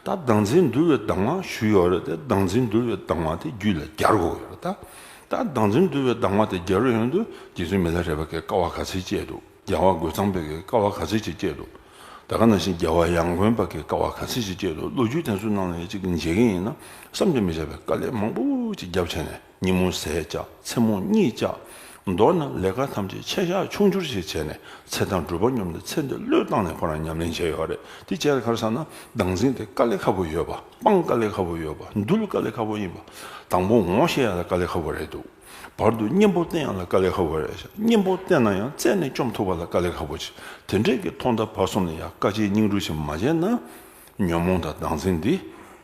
ད་སྡང་ཚན་འདུལ་བའི་གདམས་དབང་ཞུ་ཡོད་རེད་དེ་སྡང་ཚན་འདུལ་བའི་གདམས་དབང་དེ་རྒྱུད་ལ་གྱར་དགོས་ཡོད་རེད་ད་སྡང་ཚན་འདུལ་བའི་གདམས་དབང་དེ་གྱར་ཡོད་འདུག་རྗེ་བཙུན་མི་ལ་རས་པ་ཀའི་ཀ་བ་ག་ཚད་བཅས་འདུག། རྒྱལ་བ་རྒོད་ཚང་བོད་ཀྱི་ཀ་བ་ག་ཚོད་ཅིག་སྐྱེས་འདུག་ད་ག་ནང་བཞིན་རྒྱལ་བ་ཡང་དགོན་པ་ཀྱི་ཀ་བ་ག་ཚོད་ཅིག་སྐྱེས་འདུག་ལོ་རྒྱུས་དེ་ཚོ་ནང་ནས་གཅིག་གིས་མཇལ་གྱི་ཡིན་ན་བསམ་གྱིས་མི་ཁྱབ་པའི་དཀའ་ལས་མང་པོ་ཅིག་རྒྱབ་བྱས་ནས་ཉིན་མོ་ཟས་བཅག་མཚན་མོ་གཉིད་བཅག་མདོར་ན་ལས་ཀ་ཐམས་ཅད་ཆད་བཞག་ཆུང་ཆུར་ཞིག་བྱས་ནས་ཚེ་དང་སྒྲུབ་པ་སྙོམས་ཏེ་ཚེ་འདི་བློས་བཏང་ནས་ཁོ་རང་ཉམས་ལེན་བྱས་ཡོད་རེད་དེ་བྱས་ཁར་ས་ན་འདང་འཛིན་དེ་དཀའ་ལས་ཁ་པོ་ཡོད་པ་སྤང་དཀའ་ལས་ཁ་པོ་ཡོད་པ་འདུལ་དཀའ་ལས་ཁ་པོ་ཡིན་པ་དང་པོ་ངོ་ཤེས་ཡག་ལ་དཀའ་ལས་ཁ་པོ་རེད་འདུག། བར་དུ་གཉེན་པོ་བསྟེན་ཡང་ལ་དཀའ་ལས་ཧ་བོ་རེད། གཉེན་པོ་བསྟེན་ན་ཡང་རྩད་ནས་བཅོམ་ཐུབ་པ་ལ་དཀའ་ལས་ཧ་བོ་ཆེ། དེ་འདྲས་ཀྱི་ཐོག་མཐའ་བར་གསུམ་ལ་ཡང་དཀའ་སྤྱད་སྙིང་རུས་ཆེན་མ་བྱས་ན། ཉོན་མོངས་དང་སྡང་ཟིང་འདི་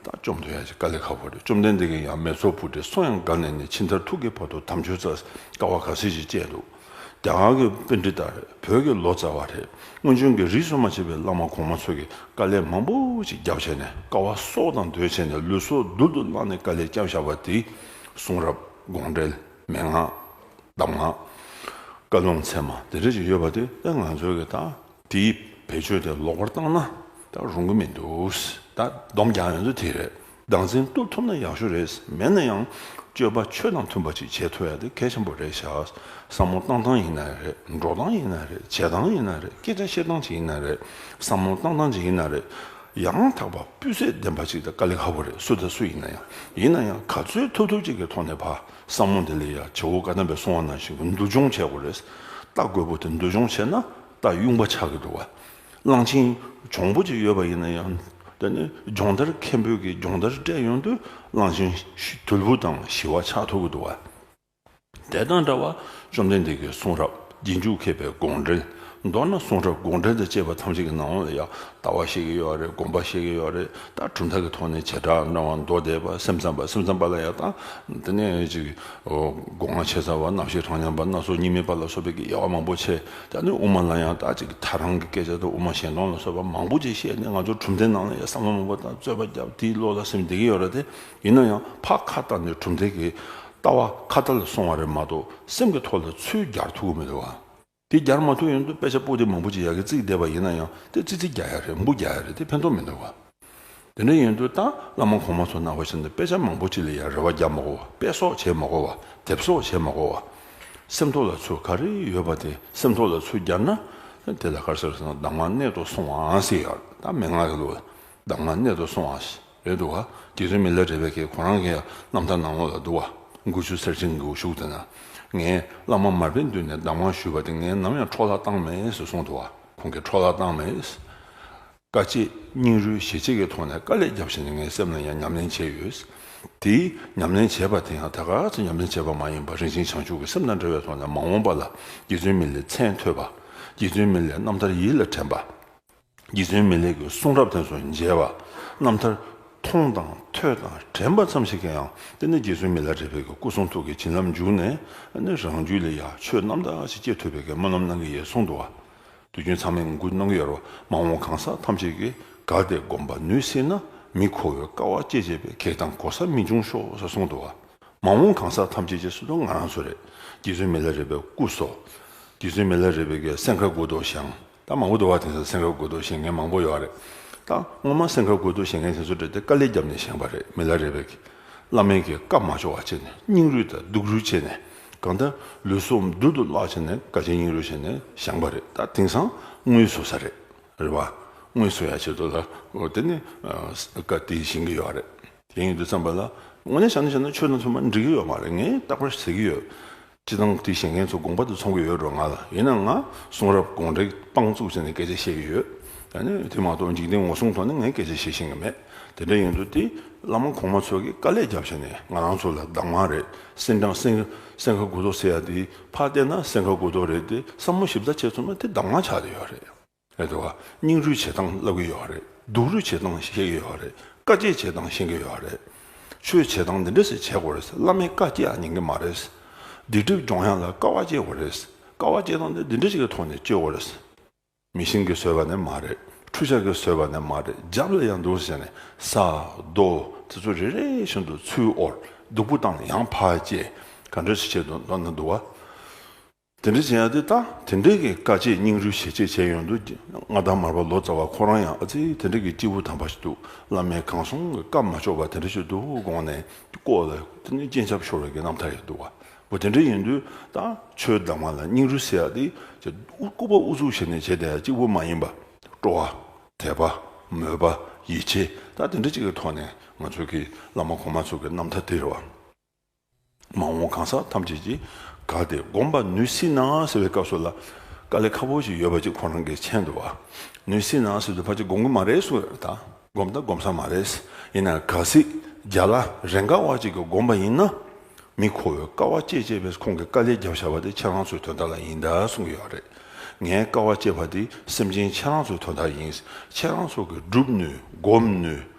དག་བཅོམ་ཐུབ་ཡང་ཅི་དཀའ་ལས་ཧ་བོ་རེད། བཅོམ་ལྡན་འདས་ཀྱིས་ཡང་མེ་ཚོགས་བུ་དེ་སོང་ཡང་དགའ་ནས་ནས་ཕྱི་མཐར་ཐུག་གི་བར་དུ་དམ་ཆོས་རྩ་བའི་ཀ་བ་ག་ཟེར་ཞིག་བཅད་འདུག། རྒྱ་གར་གྱི་དཔེ་འདི་ལྟར་རེད་བོད་ཀྱི་ལོ་ཙཱ་བ་རེད་སྔོན་བྱོན་གྱི་རིགས་གསོ་མ་བྱས་པའི་བླ་མ་གོང་མ་ཚོ་གིས་དཀའ་ལས་མང་པོ་ཅིག་བརྒྱབ་བྱས་ནས་དཀའ་བ་སྲོག་དང་དོད་བྱས་ནས་ལུས་སྲོག་རྡུལ་དུ་བརླགས་ནས་དཀའ་ལས་བརྒྱབ་བཞག་པ་དེ་གསུང་རབ་དགོངས་འགྲེལ་མན་ངག་གདམས་ངག། བཀའ་བློན་ཚད་མ་དེ་འདྲ་ཅིག་ཡོད་པ་དེ་ད་ང་ཚོས་ཀྱི་ད་དེའི་བེད་སྤྱོད་དེ་ལོག་པར་བཏང་ན་ད་རུང་གི་མི་འདུག་ད་སྡོམ་རྒྱག་ཡོང་རྒྱུ་དེ་རེད་སྡང་འཛིན་བཏུབ་ཐུབ་ན་ཡག་ཤོས་རེད་མེད་ན་ཡང་སྤྱོད་པ་ཆོས་དང་མཐུན་པ་ཅིག་བྱེད་ཐུབ་ཡག་དེ་གལ་ཆེན་པོ་རེད་བྱ་བསམ་བློ་གཏང་སྟངས་ཡིན་ན་རེད་འགྲོ་སྟངས་ཡིན་ན་རེད་བྱེད་སྟངས་ཡིན་ན་རེད་སྐད་ཆ་བཤད་སྟངས་ཅིག་ཡིན་ན་རེད་བསམ་བློ་གཏང་སྟངས་ཅིག་ཡིན་ན་རེད་ཡང་དག་པ་སྤུས་ཚད་ལྡན་པ་ཅིག་དེ་དཀའ་ལས་ཁག་པོ་རེད་སུ་དང་སུ་ཡིན་ན་ཡང་ཡིན་ན་ཡང་ག་ཚོད་ཐུབ་ཐུབ་ཅིག་གི་ཐོག་ནས་བསམ་བློ་དེ་ལས་ཡག་བྱེད་དགོས་བཀའ་གདམས་པའི་གསུང་བ་ནང་བཞིན་འདུལ་སྦྱོང་བྱེད་དགོས་རེད་ལྟ་དགོས་པོ་དེ་འདུལ་སྦྱོང་བྱེད་ན་ལྟ་དབྱུང་པ་ཆགས་ཀྱི་འདུག་བ། གླང་ཆེན་འབྱུང་པོ་ཅིག་ཡོད་པ་ཡིན་ན་ཡང་དེ་ནི་སྦྱོང་བརྡར་མཁན་པོས་ཀྱི་སྦྱོང་བརྡར་སྤྲད་ཡོང་དུས་གླང་ཆེན་དུལ་བུ་དང་ཞི་བ་ཆགས་ཐུབ་ཀྱི་འདུག་བ། དེ་དང་འདྲ་བར་བཅོམ་ལྡན་འདས་ཀྱི་གསུང་རབ་རྗེས་འཇུག་མཁས་པའི་དགོངས་འགྲེལ་མདོར་ན་གསུང་རབ་དགོངས་འགྲེལ་དང་བཅས་པ་ཐམས་ཅད་ཀྱི་ནང་ལ་ཡང་ལྟ་བ་བཤད་ཀྱི་ཡོད་རེད་དགོངས་པ་བཤད་ཀྱི་ཡོད་རེད་ལྟ་གྲུབ་མཐའ་གི་ཐོག་ནས་བྱེ་བྲག་འབྲང་བ་མདོ་སྡེ་པ་སེམས་ཙམ་པ་སེམས་ཙམ་པ་ལ་ཡང་ལྟ་དེ་ནས་ཅིག་སྒོ་ང་ཕྱེ་ཚར་བ་རྣམ་ཤེས་གྲངས་མཉམ་པ་སྣ་ཚོགས་གཉིས་མེད་པ་ལ་སོགས་པའི་དབྱེ་བ་མང་པོ་ཕྱེ་ད་ནི་དབུ་མ་ལ་ཡང་དག་ཅིག་གིས་ད་རང་གི་སྐད་ཆ་དང་དབུ་མ་གཞན་སྟོང་ལ་སོགས་པ་མང་པོ་ཅིག་བཤད་ནས་ང་ཚོར་གྲུབ་མཐའི་ནང་ལ་ཡང་བསམ་བློ་མང་པོ་དང་རྩོད་པ་བརྒྱབ་དེའི་བློ་ལ་སེམས་འདེད་ཀྱི་ཡོད་ར་སྟེ་ཡིན་ན་ཡང་ཕ་ཁ་བཏགས་ནས་གྲུབ་མཐའི་གི་ལྟ་བ་ཁ་བརྡ་ལ་སོང་བ་རེད་མ་གཏོགས་སེམས་ཀྱི་ཐོག་ལ་ཚུལ་རྒྱར་ཐུག་གི་མི་རེད་བ། དེ་རྒྱར་མ་ཐུག་ཡོང་དུས་དཔེ་ཆ་པོ་ཏི་མང་པོ་ཅིག་ཡག་གི་བརྩིགས་བསྡད་པ་ཡིན་ན་ཡང་དེ་ཙི་ཙི་རྒྱ་ཡ་རེད་འབུ་རྒྱ་ཡ་རེད་དེ་ཕན་ཐོག་མི་འདུག་བ། དེ་འདྲ་ཡིན་དུས་ད་བླ་མ་གོང་མ་ཚོ་ནང་བ་བཞིན་དུ་དཔེ་ཆ་མང་པོ་ཅིག་ལ་ཡང་རེ་བ་རྒྱག་མ་གོ་བ་དཔེ་གསོག་བྱེད་མ་གོ་བ་དེབ་གསོག་བྱེད་མ་གོ་བ། སེམས་ཐོག་ལ་ཚུར་ག་རེ་ཡོད་པ་དེ་སེམས་ཐོག་ལ་ཚུར་རྒྱབ་ན། དེ་ལ་དཀར་སེར་སོགས་གདམས་ངག་གནད་དུ་སོང་བའང་སྲིད་ཡ་ད་མན་ངག་གི་ལུགས་ལ་གདམས་ངག་གནད་དུ་སོང་བ་ཞིག་རེད་འདུག་ག་དེ་ཚོའི་མི་ལ་རེ་བས་ཁྱེད་ཁོ་རང་གི་རྣམ་ཐར་ནང་ལོགས་ལ་འདུག་བ་དགུ་ཆུ་སེར་ཆེན་གྱི་འུ་ཤུགས་དེ་ན་ངས་བླ་མ་མར་པའི་མདུན་ནས་གདམས་ངག་ཞུས་པ་དེ་ངས་ནམ་ཡང་འཕྲོག་བརླག་བཏང་མེད་ཟེར་གསུངས་འདུག་བ་ཁོང་གིས་འཕྲོག་བརླག་བཏང་མེད། དཀའ་སྤྱད་སྙིང་རུས་ཞེ་གཅིག་གི་ཐོག་ནས་དཀའ་ལས་བརྒྱབ་བཞིན་ངའི་སེམས་ལ་ཡང་ཉམས་ལེན་བྱས་ཡོད། དེ་ཉམས་ལེན་བྱས་པ་དེ་ཡང་ད་ག་ཚོད་ཉམས་ལེན་བྱས་པ་མ་ཡིན་པར་རིན་ཆེན་བྱང་ཆུབ་ཀྱི་སེམས་དང་འབྲེལ་བའི་ཐོག་ནས་མ་འོངས་པ་ལ་རྗེ་བཙུན་མི་ལའི་མཚན་ཐོས་པ། རྗེ་བཙུན་མི་ལའི་རྣམ་ཐར་ཡིད་ལ་དྲན་པ། རྗེ་བཙུན་མི་ལའི་གི་གསུང་རབ་དེ་ཚོ་མཇལ་བ། རྣམ་ཐར་མཐོང་དང་ཐོས་དང་དྲན་པ་ཙམ་ཞིག་གིས་ཡང་དེ་ནས་རྗེ་བཙུན་མི་ལ་རས་པའི་གི་སྐུ་གསུང་ཐུགས་ཀྱི་བྱིན་རླབས་འཇུག་ནས་ནི་རང་རྒྱུད་ལ་ཡང་ཆོས་རྣམ་དག་ཅིག་སྐྱེ་ཐུབ་པའི་གི་སྨོན་ལམ་གནང་གི་ཡོད་གསུང་འདུག་བ། དུས་རྒྱུན་ཚང་མས་ངོ་རྒོལ་གནང་གི་ཡོད་རེད་མ་འོངས་གང་ཟག་ཐམས་ཅད་ཀྱིས་དགའ་བདེ་སྒོམ་པ་ནུས་སྲིད་ན་མི་མཁོ་བའི་དཀའ་བ་སྤྱད་སྤྱད་པའི་གེགས་དང་གོ་ས་མི་འབྱུང་ཤོག་ཟེར་གསུངས་འདུག་མ་འོངས་གང་ཟག་ཐམས་ཅད་ཀྱི་སྲིད་དོན་ང་རང་ཚོ་རེད་རྗེ་བཙུན་མི་ལ་རས་པའི་སྐུ་སོགས་རྗེ་བཙུན་མི་ལ་རས་པའི་གེ་སེང་ཁ་དགོད་འདུག་ཞིང་ད་མང་པོ་འདུག་བ་དེང་སང་སེང་ཁ་དགོད་འདུག་བཞེངས་མཁན་མང་པོ་ཡོད་རེད་ད་སྔོན་མ་སེང་ཁ་དགོད་འདུག་བཞེངས་མཁན་དེ་ཚོ་བྲེལ་ཏེ་དཀའ་ལས་རྒྱབ་ནས་བཞེངས་པ་རེད་མི་ལ་རས་པའི་བླ་མེད་ཀྱི་བཀའ་མ་འབྱོར་བ་བྱས་ནས་སྙིང་རུས་དང་སྡུག་རུས་བྱས་ནས་གང་ལྟར་ལུས་སྲོག་རྡུལ་དུ་བརླག་བྱས་ནས་དགའ་བྱེད་སྙིང་རུས་བྱས་ནས་བཞེངས་པ་རེད་ད་དེང་སང་དངུལ་བཟོ་ས་རེད་རེད་བ། དངུལ་བཟོ་ཡ་བྱེད་འདུག་ལ་དེ་ནི་བཀའ་དེ་བཞེངས་གི་ཡོད་རེད་དེ་ཡིན་དུ་བརྩམས་པ་ལ་དངོས་གནས་བྱ་ན་བྱས་ན་ཆོས་དང་མཚུངས་པ་འགྲིག་གི་ཡོད་མ་རེད་ངས་རྟག་པར་ཟེར་གི་ཡོད། སྤྱི་བཏང་དེ་བཞེངས་མཁན་ཚོ་དགོངས་པ་དེ་ཚོང་གི་ཡོད་འགྲོ་ང་ལ་ཡིན་ན་ང་གསུང་རབ་དགོངས་འགྲེལ་དཔང་བཙུགས་བྱས་ནས་སྐད་ཆ་བཤད་ཀྱི་ཡོད་ད་ནི་དེ་མ་གཏོགས་འཇིག་རྟེན་ངོ་སྲུང་ཐོག་ནས་ངས་སྐད་ཆ་བཤད་ཤེས་ཀྱི་མེད་དེ་འདྲ་ཡིན་དུས་དེ་བླ་མ་གོང་མ་ཚོ་གི་དཀའ་ལས་རྒྱབ་བྱས་ནས་ང་རང་ཚོ་ལ་བདག་མ་རེད་སེང་སྦྲང་སེང་ཁ་གུ་དོག་ཟེར་ཡ་དེའི་ཕ་བལྟས་ན་སེང་ཁ་གུ་དོག་རེད་དེ་བསམ་བློ་ཞིབ་ཚགས་བྱས་ཚུལ་མ་དེ་བདག་མ་ཆགས་དེ་ཡོད་རེད། ལས་དེ་བ་སྙིང་རུས་བྱེད་སྟངས་བསླབ་ཀྱི་ཡོད་རེད་སྡུག་རུས་བྱེད་སྟངས་ཤེས་ཀྱི་ཡོད་རེད་དཀའ་སྤྱད་བྱེད་སྟངས་ཤེས་ཀྱི་ཡོད་རེད། ཆོས་བྱེད་སྟངས་འདི་འདྲ་ཞིག་བྱེད་དགོས་རེད་ཟེར་བླ་མས་དཀའ་སྤྱད་ཡང་ཉན་གྱི་མ་རེད། སྡིག་སྒྲིབ་སྦྱོང་ཡང་ལ་དཀའ་བ་སྤྱད་དགོས་རེད། དཀའ་བ་སྤྱད་སྟངས་འདི་འདྲ་ཞིག་གི་ཐོག་ནས་སྤྱོད་དགོས་རེད། མི་ཤིང་གིས་བཟོས་པ་ནི་མ་རེད་ཁྲུ་ཆག་གིས་བཟོས་པ་ནི་མ་རེད་རྒྱབ་ལ་ཡང་འདུག་ཟེར་ནས་ས་རྡོ་དེ་ཚོ་རེ་རེ་བཞིན་དུ་ཚུར་དབོར་སྡུག་པོ་བཏང་ཡང་བར་བཅད་ག་འདྲ་ཞིག་བྱས་འདུག་མདོར་ན་འདུག་བ། དེ་འདྲ་བྱས་ཡང་དེ་ལྟ་དེ་འདྲས་ཀྱི་དཀའ་སྤྱད་སྙིང་རུས་ཞེ་གཅད་བྱས་ཡོང་དུས་མངའ་ཐང་མར་པ་ལོ་ཙཱ་བ་ཁོ་རང་ཡང་ཨ་ཙི་དེ་འདྲས་ཀྱི་སྐྱེས་བུ་དམ་པ་ཞིག་འདུག་བླ་མའི་གང་གསུང་གི་སྐབས་མ་ཆོག་པ་དེ་འདྲ་ཞིག་འདུག་དགོངས་ནས་བསྐོར་ལ་སྤྱན་ཆབ་ཤོར་བའི་གི་རྣམ་ཐར་ཞིག་འདུག་བ་དེ་འདྲས་ཡིན་དུས་ད་ཆོས་བདག་མ་ལ་སྙིང་རུས་བསྲེ་ཡག་དེ་ཅེས་སྐུ་པ་དབུ་གཙུག་བྱས་ནས་བྱས་ཏེ་གཅིག་པུ་མ་ཡིན་པ་སྤྲོ་བ། དད་པ། མོས་པ། ཡིད་ཆེས་ད་དེ་འདྲ་གཅིག་གི་ཐོག་ནས་ང་ཚོས་གི་བླ་མ་གོང་མ་ཚོ་གི་རྣམ་ཐར་དེ་རེད་བ། མ་འོངས་གང་ཟག་ཐམས་ཅད་ཀྱིས་དགའ་སྟེ་བསྒོམ་པར་ནུས་སྲིད་ན་ཟེར་བའི་སྐབས་སུ་ལ་དཀའ་ལས་ཁ་པོ་ཞིག་ཡོད་པ་ཅིག་ཁོ་རང་གི་མཆན་དུ་བ་ནུས་སྲིད་ན་ཟེར་དུས་ཕ་ཅིག་བསྒོམ་གི་མ་རེད་གསུངས་ཡོད་པ་དང་བསྒོམ་དང་བསྒོམ་ས་མ་རེད། ཡིན་ནའང་གལ་སྲིད་རྒྱ་ལ་རེ་འགའ་བ་ཅིག་གིས་བསྒོམ་པ་ཡིན་ན། མི་མཁོ་བའི་དཀའ་བ་སྤྱད་སྤྱད་པས་ཁོང་གིས་དཀའ་ལས་བརྒྱབ་བཞག་པ་དེ་ཁྱེད་རང་ཚོའི་དོན་དག་ལ་ཡིན་དཱ་གསུངས་ཀྱི་ཡོད་རེད། ངའི་དཀའ་བ་སྤྱད་པ་དེ་སེམས་ཅན་ཁྱེད་རང་ཚོའི་དོན་དག་ཡིན། ཁྱེད་རང་ཚོ་གིས་བསྒྲུབ་ནུས་བསྒོམ་ནུས།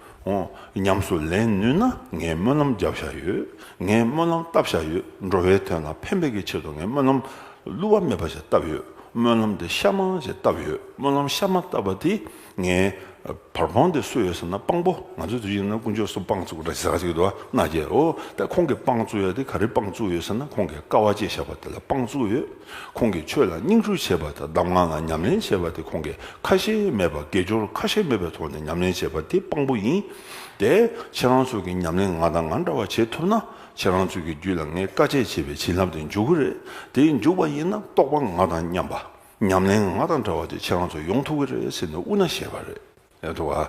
ཉམས་སུ་ལེན་ནུས་ན་ངས་སྨོན་ལམ་རྒྱབ་བཞག་ཡོད། ངས་སྨོན་ལམ་བཏབ་བཞག་ཡོད། འགྲོ་བའི་དོན་ལ་ཕན་པའི་གི་ཆེད་དུ་ངས་སྨོན་ལམ་བསླུ་བ་མེད་པ་ཞིག་བཏབ་ཡོད། སྨོན་ལམ་དེ་ཤ་མང་ཞིག་བཏབ་ཡོད། སྨོན་ལམ་ཤ་མང་བཏབ་པ་དེས་ངའི་བར་སྤང་དེ་སུ་ཡོད་ཟེར་ན་དཔང་པོ་ང་ཚོའི་དུས་ཤིག་ན་དཀོན་མཆོག་སུ་དཔང་བཙུགས་ར་ཟེར་གཅིག་འདུག་ཨ་མནའ་རྒྱལ་ཨོ་ད་ཁོང་གིས་དཔང་བཙུགས་ཡོད་དེ་ག་རེ་དཔང་བཙུགས་ཡོད་ཟེར་ན་ཁོང་གིས་དཀའ་བ་སྤྱད་བཞག་པ་དེ་ལ་དཔང་བཙུགས་ཡོད། ཁོང་གིས་ཆོས་ལ་སྙིང་རུས་ཆེ་བ་དང་གདམས་ངག་ལ་ཉམས་ལེན་ཆེ་བ་དེ་ཁོང་གིས་ཁ་ཞེ་མེད་པར་དགེ་སྦྱོར་ཁ་ཞེ་མེད་པའི་ཐོག་ནས་ཉམས་ལེན་བྱེད་པ་དེ་དཔང་པོ་ཡིན། དེ་ཁྱེད་རང་ཚོ་གིས་ཉམས་ལེན་ང་དང་ང་འདྲ་བ་བྱེད་ཐུབ་ན་ཁྱེད་རང་ཚོ་གི་རྒྱུད་ལ་ངས་དཀའ་སྤྱད་བྱས་པའི་བྱིན་རླབས་དེ་འཇུག་གི་རེད་དེ་འཇུག་པ་ཡིན་ན་རྟོགས་པ་ང་དང་མཉམ་པ། ཉམས་ལེན་ང་དང་འདྲ་བ་དེ་ཁྱེད་རང་ཚོ་ཡོང་ཐུབ་གི་རེད་ཟེར་ནས་དབུ་ན་བཤད་པ་རེད།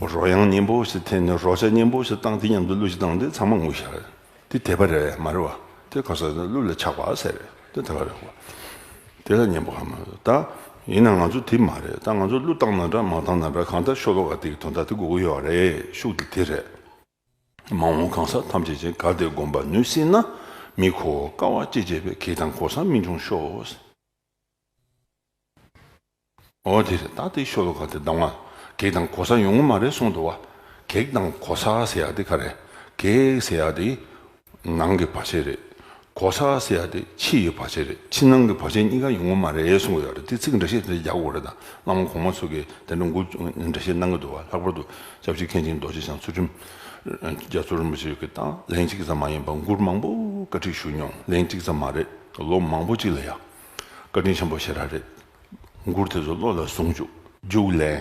རོ་དབྱངས་སྙན་པོ་ཞེས་དེ་ནས་རོ་ཆ་སྙན་པོ་ཞེས་བཏགས་འདི་མཉམ་དུ་གླུ་ཞིག་བཏང་སྟེ་ཚང་མ་ངུ་ཞག་རེད་འདི་དད་པ་རེད་མ་རེད་བ་དེ་ག་ཟེ་ན་གླུ་ལ་ཆགས་པ་ཟེར་རེད་དེ་དད་པ་རེད་བ་དེ་ལ་སྙན་པོ་ག་མ་རེད་ད་ཡིན་ན་ང་ཚོ་དེ་མ་རེད་ད་ང་ཚོ་གླུ་བཏང་ན་འདྲ་མ་བཏང་ན་འདྲ་གང་ལྟར་ཤོ་ལོ་ཀ་དེ་གི་དོན་དག་དེ་གོ་གི་ཡོད་བ་རེད་ཤུགས་དེ་དེ་རེད། མ་འོངས་གང་ཟག་ཐམས་ཅད་ཅན་དགའ་བདེ་སྒོམ་པ་ནུས་སྲིད་ན་མི་གོ་དཀའ་བ་སྐྱེ་བྱེད་པའི་གེགས་དང་གོ་ས་མི་འབྱུང་ཤོག། འོ་དེ་རེད་ད་དེ་ཤོ་ལོ་ཀ་དེ་སྡང་བ་གེགས་དང་གོ་ས་ཡོང་ངོ་མ་རེད་གསུངས་འདུག་བ་གེགས་དང་གོ་ས་ཟེར་ཡག་དེ་ག་རེད་གེགས་ཟེར་ཡག་དེ་ནང་གི་བར་ཆད་རེད་གོ་ས་ཟེར་ཡག་དེ་ཕྱི་ཡི་བར་ཆད་རེད་ཕྱི་ནང་གི་བར་ཆད་གཉིས་ཀ་ཡོང་ངོ་མ་རེད་གསུངས་གི་ཡོད་རེད་དེ་ཚིག་འདྲ་བཤད་དེ་རྒྱག་དགོས་རེད་ད་བླ་མ་གོང་མ་ཚོ་གི་དེ་འདྲ་འགུ་འདྲ་བཤད་གནང་གི་འདུག་བ་ལྷག་པར་དུ་ལྕགས་ཕྱི་མཁན་ཆེན་རྡོ་རྗེ་འཆང་ཚུལ་ཁྲིམས་རྒྱ་མཚོ་རིན་པོ་ཆེ་གི་དང་ལེན་གཅིག་ཙམ་མ་ཡིན་པར་འགུར་མང་པོ་བཀའ་ཁྲིད་ཞུས་མྱོང་ལེན་གཅིག་ཙམ་མ་རེད་ལོ་མང་པོ་གཅིག་ལ་ཡག་བཀའ་དྲིན་ཆེན་པོ་ཞེ་དྲག་རེད། མགུར་དེ་ཚོ་བློ་ལ་བཟུང་བཅུག། རྒྱུགས་ལན།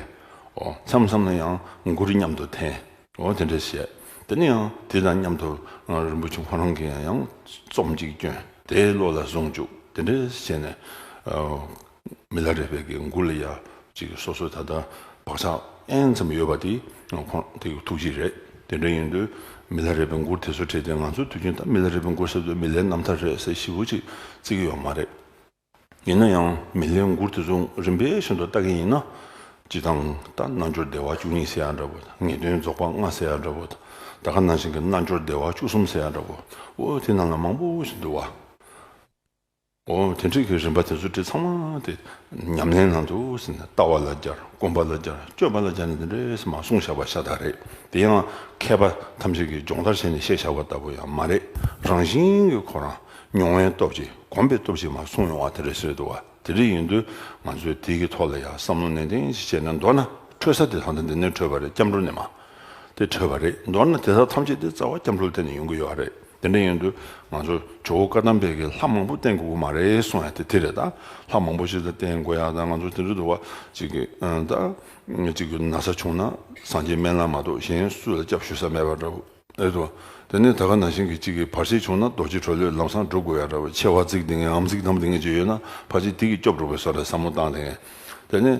ཨོ། མཚམས་མཚམས་ན་ཡང་མགུར་མཉམ་དུ་འཐེན། ཨོ་དེ་འདྲ་བྱས། དེ་ནས་ཡང་དེ་དང་མཉམ་དུ་རིན་པོ་ཆེ་ཁོ་རང་གི་ཡང་ཡང་རྩོམ་གཅིག་བསྐྱོན། དེ་བློ་ལ་བཟུང་བཅུག་དེ་འདྲ་བྱས་ནས། མི་ལ་རས་པས་ཀྱི་མགུར་ལ་ཡ། སོ་སོའི་ད་ལྟ་བག་ཆགས་ཨེན་ཙམ་ཡོད་པ་དེ་ཁོང་དེ་གི་ཐུགས་རྗེ་རེད་དེ་འདྲ་ཡིན་དུས་མི་ལ་རས་པའི་མགུར་དེ་ཚོ་བྲིས་ཏེ་ང་ཚོ་དུས་རྒྱུན་ད་མི་ལ་རས་པའི་མགུར་ཟེར་དུས་མི་ལའི་རྣམ་ཐར་རེད་ཟེར་ཞིབ་བོ་ཅིག་བརྩི་གི་ཡོད་མ་རེད། ཡིན་ན་ཡང་མི་ལའི་མགུར་དེ་ཚོ་རིམ་པས་ཤིན་ཏུ་ལྟ་གི་ཡིན་ན། སྤྱི་དང་ད་རྣལ་འབྱོར་བདེ་བ་བཅུ་གཉིས་ཟེར་ཡ་འདྲ་བོ་ངེས་དོན་རྫོགས་པ་ལྔ་ཟེར་ཡ་འདྲ་བོ་ད་ག་ནང་བཞིན་གྱི་རྣལ་འབྱོར་བདེ་བ་བཅུ་གསུམ་ཟེར་ཡ་འདྲ་བོ་འོ་དེ་རྣམས་ལ་མང་པོ་ཞིག་འདུག་བ། དེ་འཕྲལ་གྱི་རིམ་པ་དེ་ཚོ་དེ་ཚང་མ་དེ་ཉམས་ལེན་ནང་དུ་ཟིན་ནས་ལྟ་བ་ལ་སྦྱར་སྐོམ་པ་ལ་སྦྱར་སྤྱོད་པ་ལ་སྦྱར་ནས་དེ་འདྲས་མ་གསུངས་བཞག་པ་ཤ་སྟག་རེད་དེ་ཡང་མཁས་པ་ཐམས་ཅད་ཀྱིས་སྦྱོང་བརྡར་བྱས་ནས་བཤད་བཞག་པ་ལྟ་བུ་ཡང་མ་རེད་རང་བཞིན་གྱི་ཁོ་རང་མྱོང་བའི་སྟོབས་ཀྱིས་གོམས་པའི་སྟོབས་ཀྱིས་མ་གསུངས་ཡོང་བ་དེ་རེད་བཟོད་དུ་བ་དེ་འདྲས་ཡིན་དུས་ང་ཚོས་དེའི་ཐོག་ལ་ཡང་བསམ་བློ་ནན་ཏན་ཞིག་བྱས་ནས་མདོར་ན་འཕྲོད་ས་དེ་ད་ལྟ་འདི་ནས་འཕྲོད་པ་རེད་སྐྱབས་འགྲོ་ནས་མ། དེ་འཕྲོད་པ་རེད། མདོར་ན་དེ་དག་ཐམས་ཅད་དེ་རྩ་བ་སྐྱབས་འགྲོ་ལ་བརྟེན་ནས་ཡོང་གི་ཡོད་རེད། དེ་འདྲ་ཡིན་དུས་ང་ཚོ་ཇོ་བོ་བཀའ་གདམས་དཔལ་གྱི་ལྷ་མང་པོ་བསྟེན་དགོས་ཀྱི་མ་རེད་གསུང་ཡ་དེ་དེ་རེད་ད། ལྷ་མང་པོ་ཞིག་ལ་བསྟེན་དགོས་ཡ་ད་ང་ཚོ་དེ་འདྲ་འདུག་བ་ཅིག་གི་ད། གཅིག་གི་ན་ཚ་བྱུང་ན་སངས་རྒྱས་སྨན་བླ་མ་གཏོགས་གཞན་སུ་ལ་སྐྱབས་ཞུ་ས་མེད་པ་འདྲ་བོ་རེད་དོ། དེ་ནས་ད་ག་ན་ཞིང་གི་གཅིག་གི་བར་ཆད་བྱུང་ན་རྡོ་རྗེ་གྲོ་ལོད་ལམ་སང་འགྲོ་དགོས་ཡ་འདྲ་བོ་ཆེ་བ་ཙིག་འདི་ངན་འམ་ཙིག་དམ་འདི་ངན་བྱས་ཡོད་ན་བར་ཆད་དེ་གིས་སྐྱོབ་འགྲོ་དགོས་ས་རེད་བསམ་བློ་བཏང་དེ། དེ་ནས།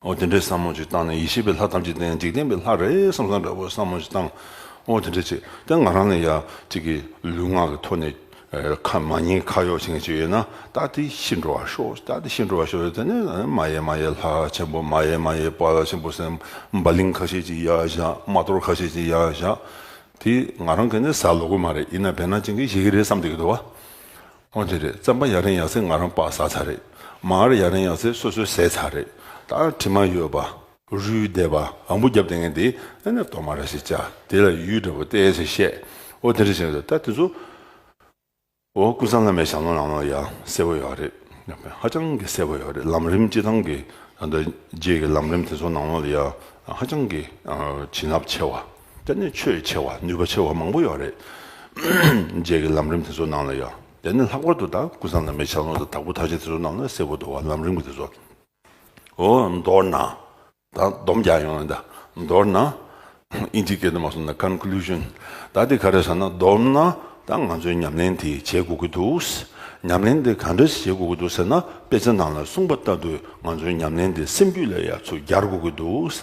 འོ་དེ་འདྲའི་བསམ་མོ་ཅིག་བཏང་ནས་ཡེ་ཤེས་པའི་ལྷ་ཐམས་ཅད་བསྟན་འཇིག་རྟེན་པའི་ལྷ་རེ་བསམ་བསམ་འདྲ་བོ་བསམ་མོ་ཅིག་བཏང། འོ་དེ་འདྲའི་ཚེ་དེ་ང་རང་ནས་ཡ་གཅིག་གི་ལུས་ངག་གི་ཐོག་ནས་ཁ་མ་ཉིན་ཁ་གཡོག་བྱེད་མཁན་ཅིག་ཡོད་ན་ད་དེ་ཤི་འགྲོ་བ་ཤོག་ད་དེ་ཤི་འགྲོ་བ་ཤོག་དེ་ནས་མ་ཡེ་མ་ཡེ་ལྷ་ཆེན་པོ་མ་ཡེ་མ་ཡེ་པཱ་ལ་ཆེན་པོ་སེམས་དཔའ་ལིང་ཁ་ཤས་ཅིག་ཡ་བཞག་མ་གཏོར་ཁ་ཤས་ཅིག་ཡ་བཞག་དེ་ང་རང་གི་ནས་ཟ་ལོ་གི་མ་རེད་ཡིན་ན་བེར་ནག་ཅན་གྱིས་བཞེས་ཀྱི་རེད་བསམ་བསྡད་ཀྱི་འདུག་བ། ཨོ་དེ་རེད་རྩམ་པ་ཡག་རིང་ཡག་ཚེ་ང་རང་བག་ཟ་ཚར་རེད་མ་ཨར་ཡག་རིང་ཡག་ཚེ་སོ་སོའི་ཟས་ཚར་རེད་ད་ཨར་དྲི་མ་ཡོད་པ། རུའི་སྡེ་པ་ཨ་འབུ་རྒྱབ་ལྡེ་ངན་དེ་ཨེ་ནས་གཏོར་མ་ར་ཞིག་བཅག་དེ་ལ་ཡུལ་འདྲ་བོ་སྟེ་ཞེས་བཤད་ཨོ་དེ་རེད་བཤད་ད་དེ་ཚོ་ཨོ་ཀུན་བཟང་བླ་མའི་ཞབས་ལོང་ལམ་ལོང་ཡག་གསལ་བོ་ཡག་རེད་ཧ་ཅང་གི་གསལ་བོ་ཡག་རེད་ལམ་རིམ་སྤྱི་དང་གི་རྗེས་ཀྱི་ལམ་རིམ་དེ་ཚོ་ནང་ལོག་ལ་ཡག་ཧ་ཅང་གི་བྱིན་རླབས་ཆེ་བ། དེ་ནི་ཆོས་ཆེ་བ་ནུས་པ་ཆེ་བ་མང་པོ་ཡོད་རེད། རྗེས་ཀྱི་ལམ་རིམ་དེ་ཚོ་ནང་ལ་ཡོད། དེ་ནི་ལྷག་པར་དུ་དང་ཀུན་བཟང་ལ་མེ་ཆ་ལོང་དང་དྭགས་པོ་མཐར་ཕྱིན་དེ་ཚོ་ནང་ལ་གསལ་པོ་འདུག་བ་ལམ་རིམ་གྱི་དེ་ཚོ། འོ། མདོར་ན། ད་སྡོམ་རྒྱག་ཡོང་ན་འདི། མདོར་ན། ཨིན་ཇིའི་སྐད་དུ་མ་གསུངས་ན Conclusion། ད་དེ་ག་རེ་ཟེར་ན་སྡོམ་ན། ད་ང་ཚོས་ཉམས་ལེན་དེ་བྱེད་དགོས་ཀྱི་འདུག། ཉམས་ལེན་དེ་ག་འདྲ་ཞིག་བྱེད་དགོས་ཀྱི་འདུག་ཟེར་ན་དཔེ་ཆ་ནང་ལ་གསུངས་པ་ལྟ་བུས་ང་ཚོའི་ཉམས་ལེན་དེ་སེམས་རྒྱུད་ལ་ཡར་ཚུར་རྒྱག་དགོས་ཀྱི་འདུག།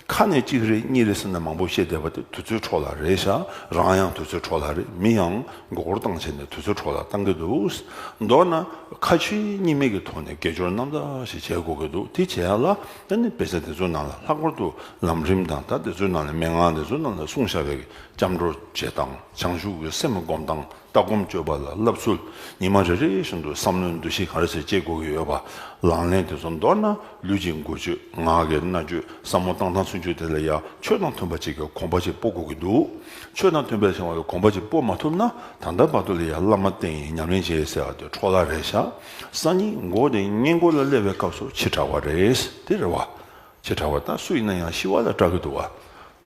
ཁ་ནས་གཅིག་རེད་གཉིས་རེད་ཟེར་ནས་མང་པོ་བཤད་བསྡད་པ་དེ་དུས་ཚོད་འཕྲོ་ལ་རེད་ཤག་རང་ཡང་དུས་ཚོད་འཕྲོ་ལ་རེད་མི་ཡང་མགོ་སྐོར་བཏང་བྱས་ནས་དུས་ཚོད་འཕྲོ་ལ་བཏང་གི་འདུག་མདོར་ན་ཁ་ཆེ་གཉིས་མེད་ཀྱི་ཐོག་ནས་དགེ་སྦྱོར་རྣམ་དག་ཞིག་བྱེད་དགོས་ཀྱི་འདུག་དེ་བྱས་ལ་ད་ནི་དཔེ་ཆ་དེ་ཚོའི་ནང་ལ་ལྷག་པར་དུ་ལམ་རིམ་དང་དག་དེ་ཚོའི་ནང་ལ་མན་ངག་དེ་ཚོའི་ནང་ལ་གསུང་བྱ་བའི་སྐྱབས་འགྲོ་བྱེད་སྟངས་བྱང་ཆུབ་ཀྱི་སེམས་བསྒོམ་སྟངས་ལྟ་སྒོམ་སྤྱོད་པ་ལ་བསླབ་ཚུལ་ཉི་མ་རེ་རེ་བཞིན་དུ་བསམ་བློའི་འདུ་ཤེས་གང་རེ་ཟད་བསྐྱེད་དགོས་ཀྱི་ཡོད་པ་ལང་ལེན་དེ་ཚོ་མདོར་ན་ལུས་ཀྱི་མགུལ་ཆོད་ངག་གི་རྣ་ཆོད་བསམ་བློ་བཏང་སྟངས་ཚུན་ཆོད་དེ་ལ་ཡང་ཆོས་དང་མཐུན་པ་ཅིག་གི་གོམ་པ་ཅིག་སྤོ་དགོས་ཀྱི་འདུག་ཆོས་དང་མཐུན་པའི་ཞེན་བ་ཡི་གོམ་པ་ཅིག་སྤོ་མ་ཐུབ་ན་ད་ལྟ་བར་དུ་ལ་ཡང་བླ་མ་བསྟེན་ཡིན་ཉམས་ལེན་བྱེད་ཟེར་བ་དེ་འཕྲོ་བརླག་རེད་ཤག་ས་སྙིང་མགོ་དེ་སྙིང་མགོ་ལ་སླེབས་པའི་སྐབས་སུ་ཕྱི་དྲ་བ་རེད་དེ་རེད་བ། ཕྱི་དྲ་བ་ད་སུ་ཡིན་ན་ཡང་ཤི་བ་ལ་སྐྲག་གི་འདུག་བ།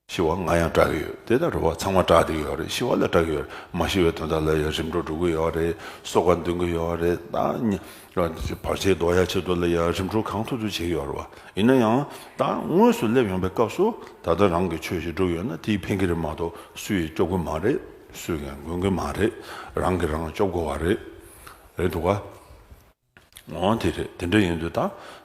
ཤི་བ་ང་ཡང་སྐྲག་གི་ཡོད་དེ་ལྟར་རེ་བ་ཚང་མ་སྐྲག་བསྡད་ཀྱི་ཡོད་རེད་ཤི་བ་ལ་སྐྲག་གི་ཡོད་རེད་མ་ཤི་བའི་དོན་དག་ལ་ཡང་རིམ་གྲོ་འགྲོ་གི་ཡོད་རེད་སོ་ཁ་འདོན་གི་ཡོད་རེད་ད། བར་ཆད་འདོགས་ཡ་ཆེད་དུ་ལ་ཡང་རིམ་གྲོ་གང་ཐུབ་ཐུབ་བྱེད་ཀྱི་ཡོད་རེད་བ་ཡིན་ན་ཡང་ད་དངོས་སུ་སླེབས་ཡོང་པའི་སྐབས་སུ་ད་ལྟ་རང་གི་ཆོས་ཞིག་སྒྲུབ་ཡོད་ན་དེའི་ཕན་གི་རེད་མ་གཏོགས་སུ་ཡིས་སྐྱོབ་གི་མ་རེད་སུས་ཀྱང་གོན་གི་མ་རེད་རང་གིས་རང་སྐྱོབ་དགོས་བ་རེད་འདུག་ག། འོང་དེ་རེད་དེ་འདྲ་ཡིན་དུས་ད་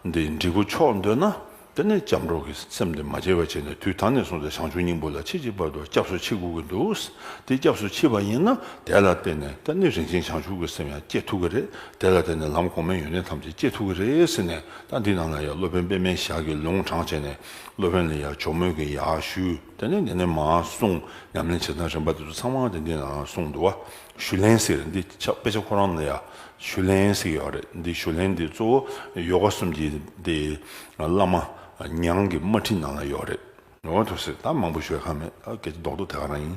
འདི་འབྲི་གུ་ཆོག་འདོད་ན་དེ་ནས་སྐྱབས་འགྲོ་གི་སེམས་དེ་མ་བྱེད་པ་བྱེད་ནས་དུས་ད་ནས་བཟུང་སྟེ་བྱང་ཆུབ་སྙིང་པོ་ལ་ཕྱིས་ཀྱི་བར་དུ་སྐྱབས་སུ་མཆི་དགོས་ཀྱི་འདུག་དེ་སྐྱབས་སུ་མཆི་བ་ཡིན་ན་དེ་ལ་བརྟེན་ནས་ད་ནི་རིན་ཆེན་བྱང་ཆུབ་ཀྱི་སེམས་ཡང་སྐྱེ་ཐུབ་ཀྱི་རེད་དེ་ལ་བརྟེན་ནས་ལམ་གོང་མའི་ཡོན་ཏན་ཐམས་ཅད་སྐྱེ་ཐུབ་ཀྱི་རེད་ཟེར་ནས་ད་འདི་ན་ལ་ཡ་སློབ་དཔོན་པད་མའི་ཞག་གིས་ལུང་དྲངས་བྱས་ནས་སློབ་དཔོན་ལ་ཡ་ཇོ་མོས་ཀྱི་ཡ་ཞུས་དེ་ནས་འདི་ནས་མ་གསུངས་ཉམས་ལེན་བྱེད་སྟངས་རིམ་པ་དེ་ཚོ་ཚང་མ་དེ་འདི་ན་ལ་གསུངས་འདུག་བ། ཞུ་ལན་ཟེར་རེད་འདི་ཆགས་དཔེ་ཆ་ཁོ་རང་ལ་ཡ་ཞུ་ལན་ཟེར་གི་ཡོད་རེད་འདི་ཞུ་ལན་འདི་གཙོ་བོ་ཡོ་ག་གསུམ་གྱི་འདི་བླ་མ་ཉང་གི་དམར་ཁྲིད་ནང་ལ་ཡོད་རེད། ཡོང་བ་ཐུབ་ཟེར་ད་མང་པོ་ཤོད་ཁག་མེད་ད་གལ་ཏེ་ལྡོག་ཏུ་དེ་ག་རང་ཡིན།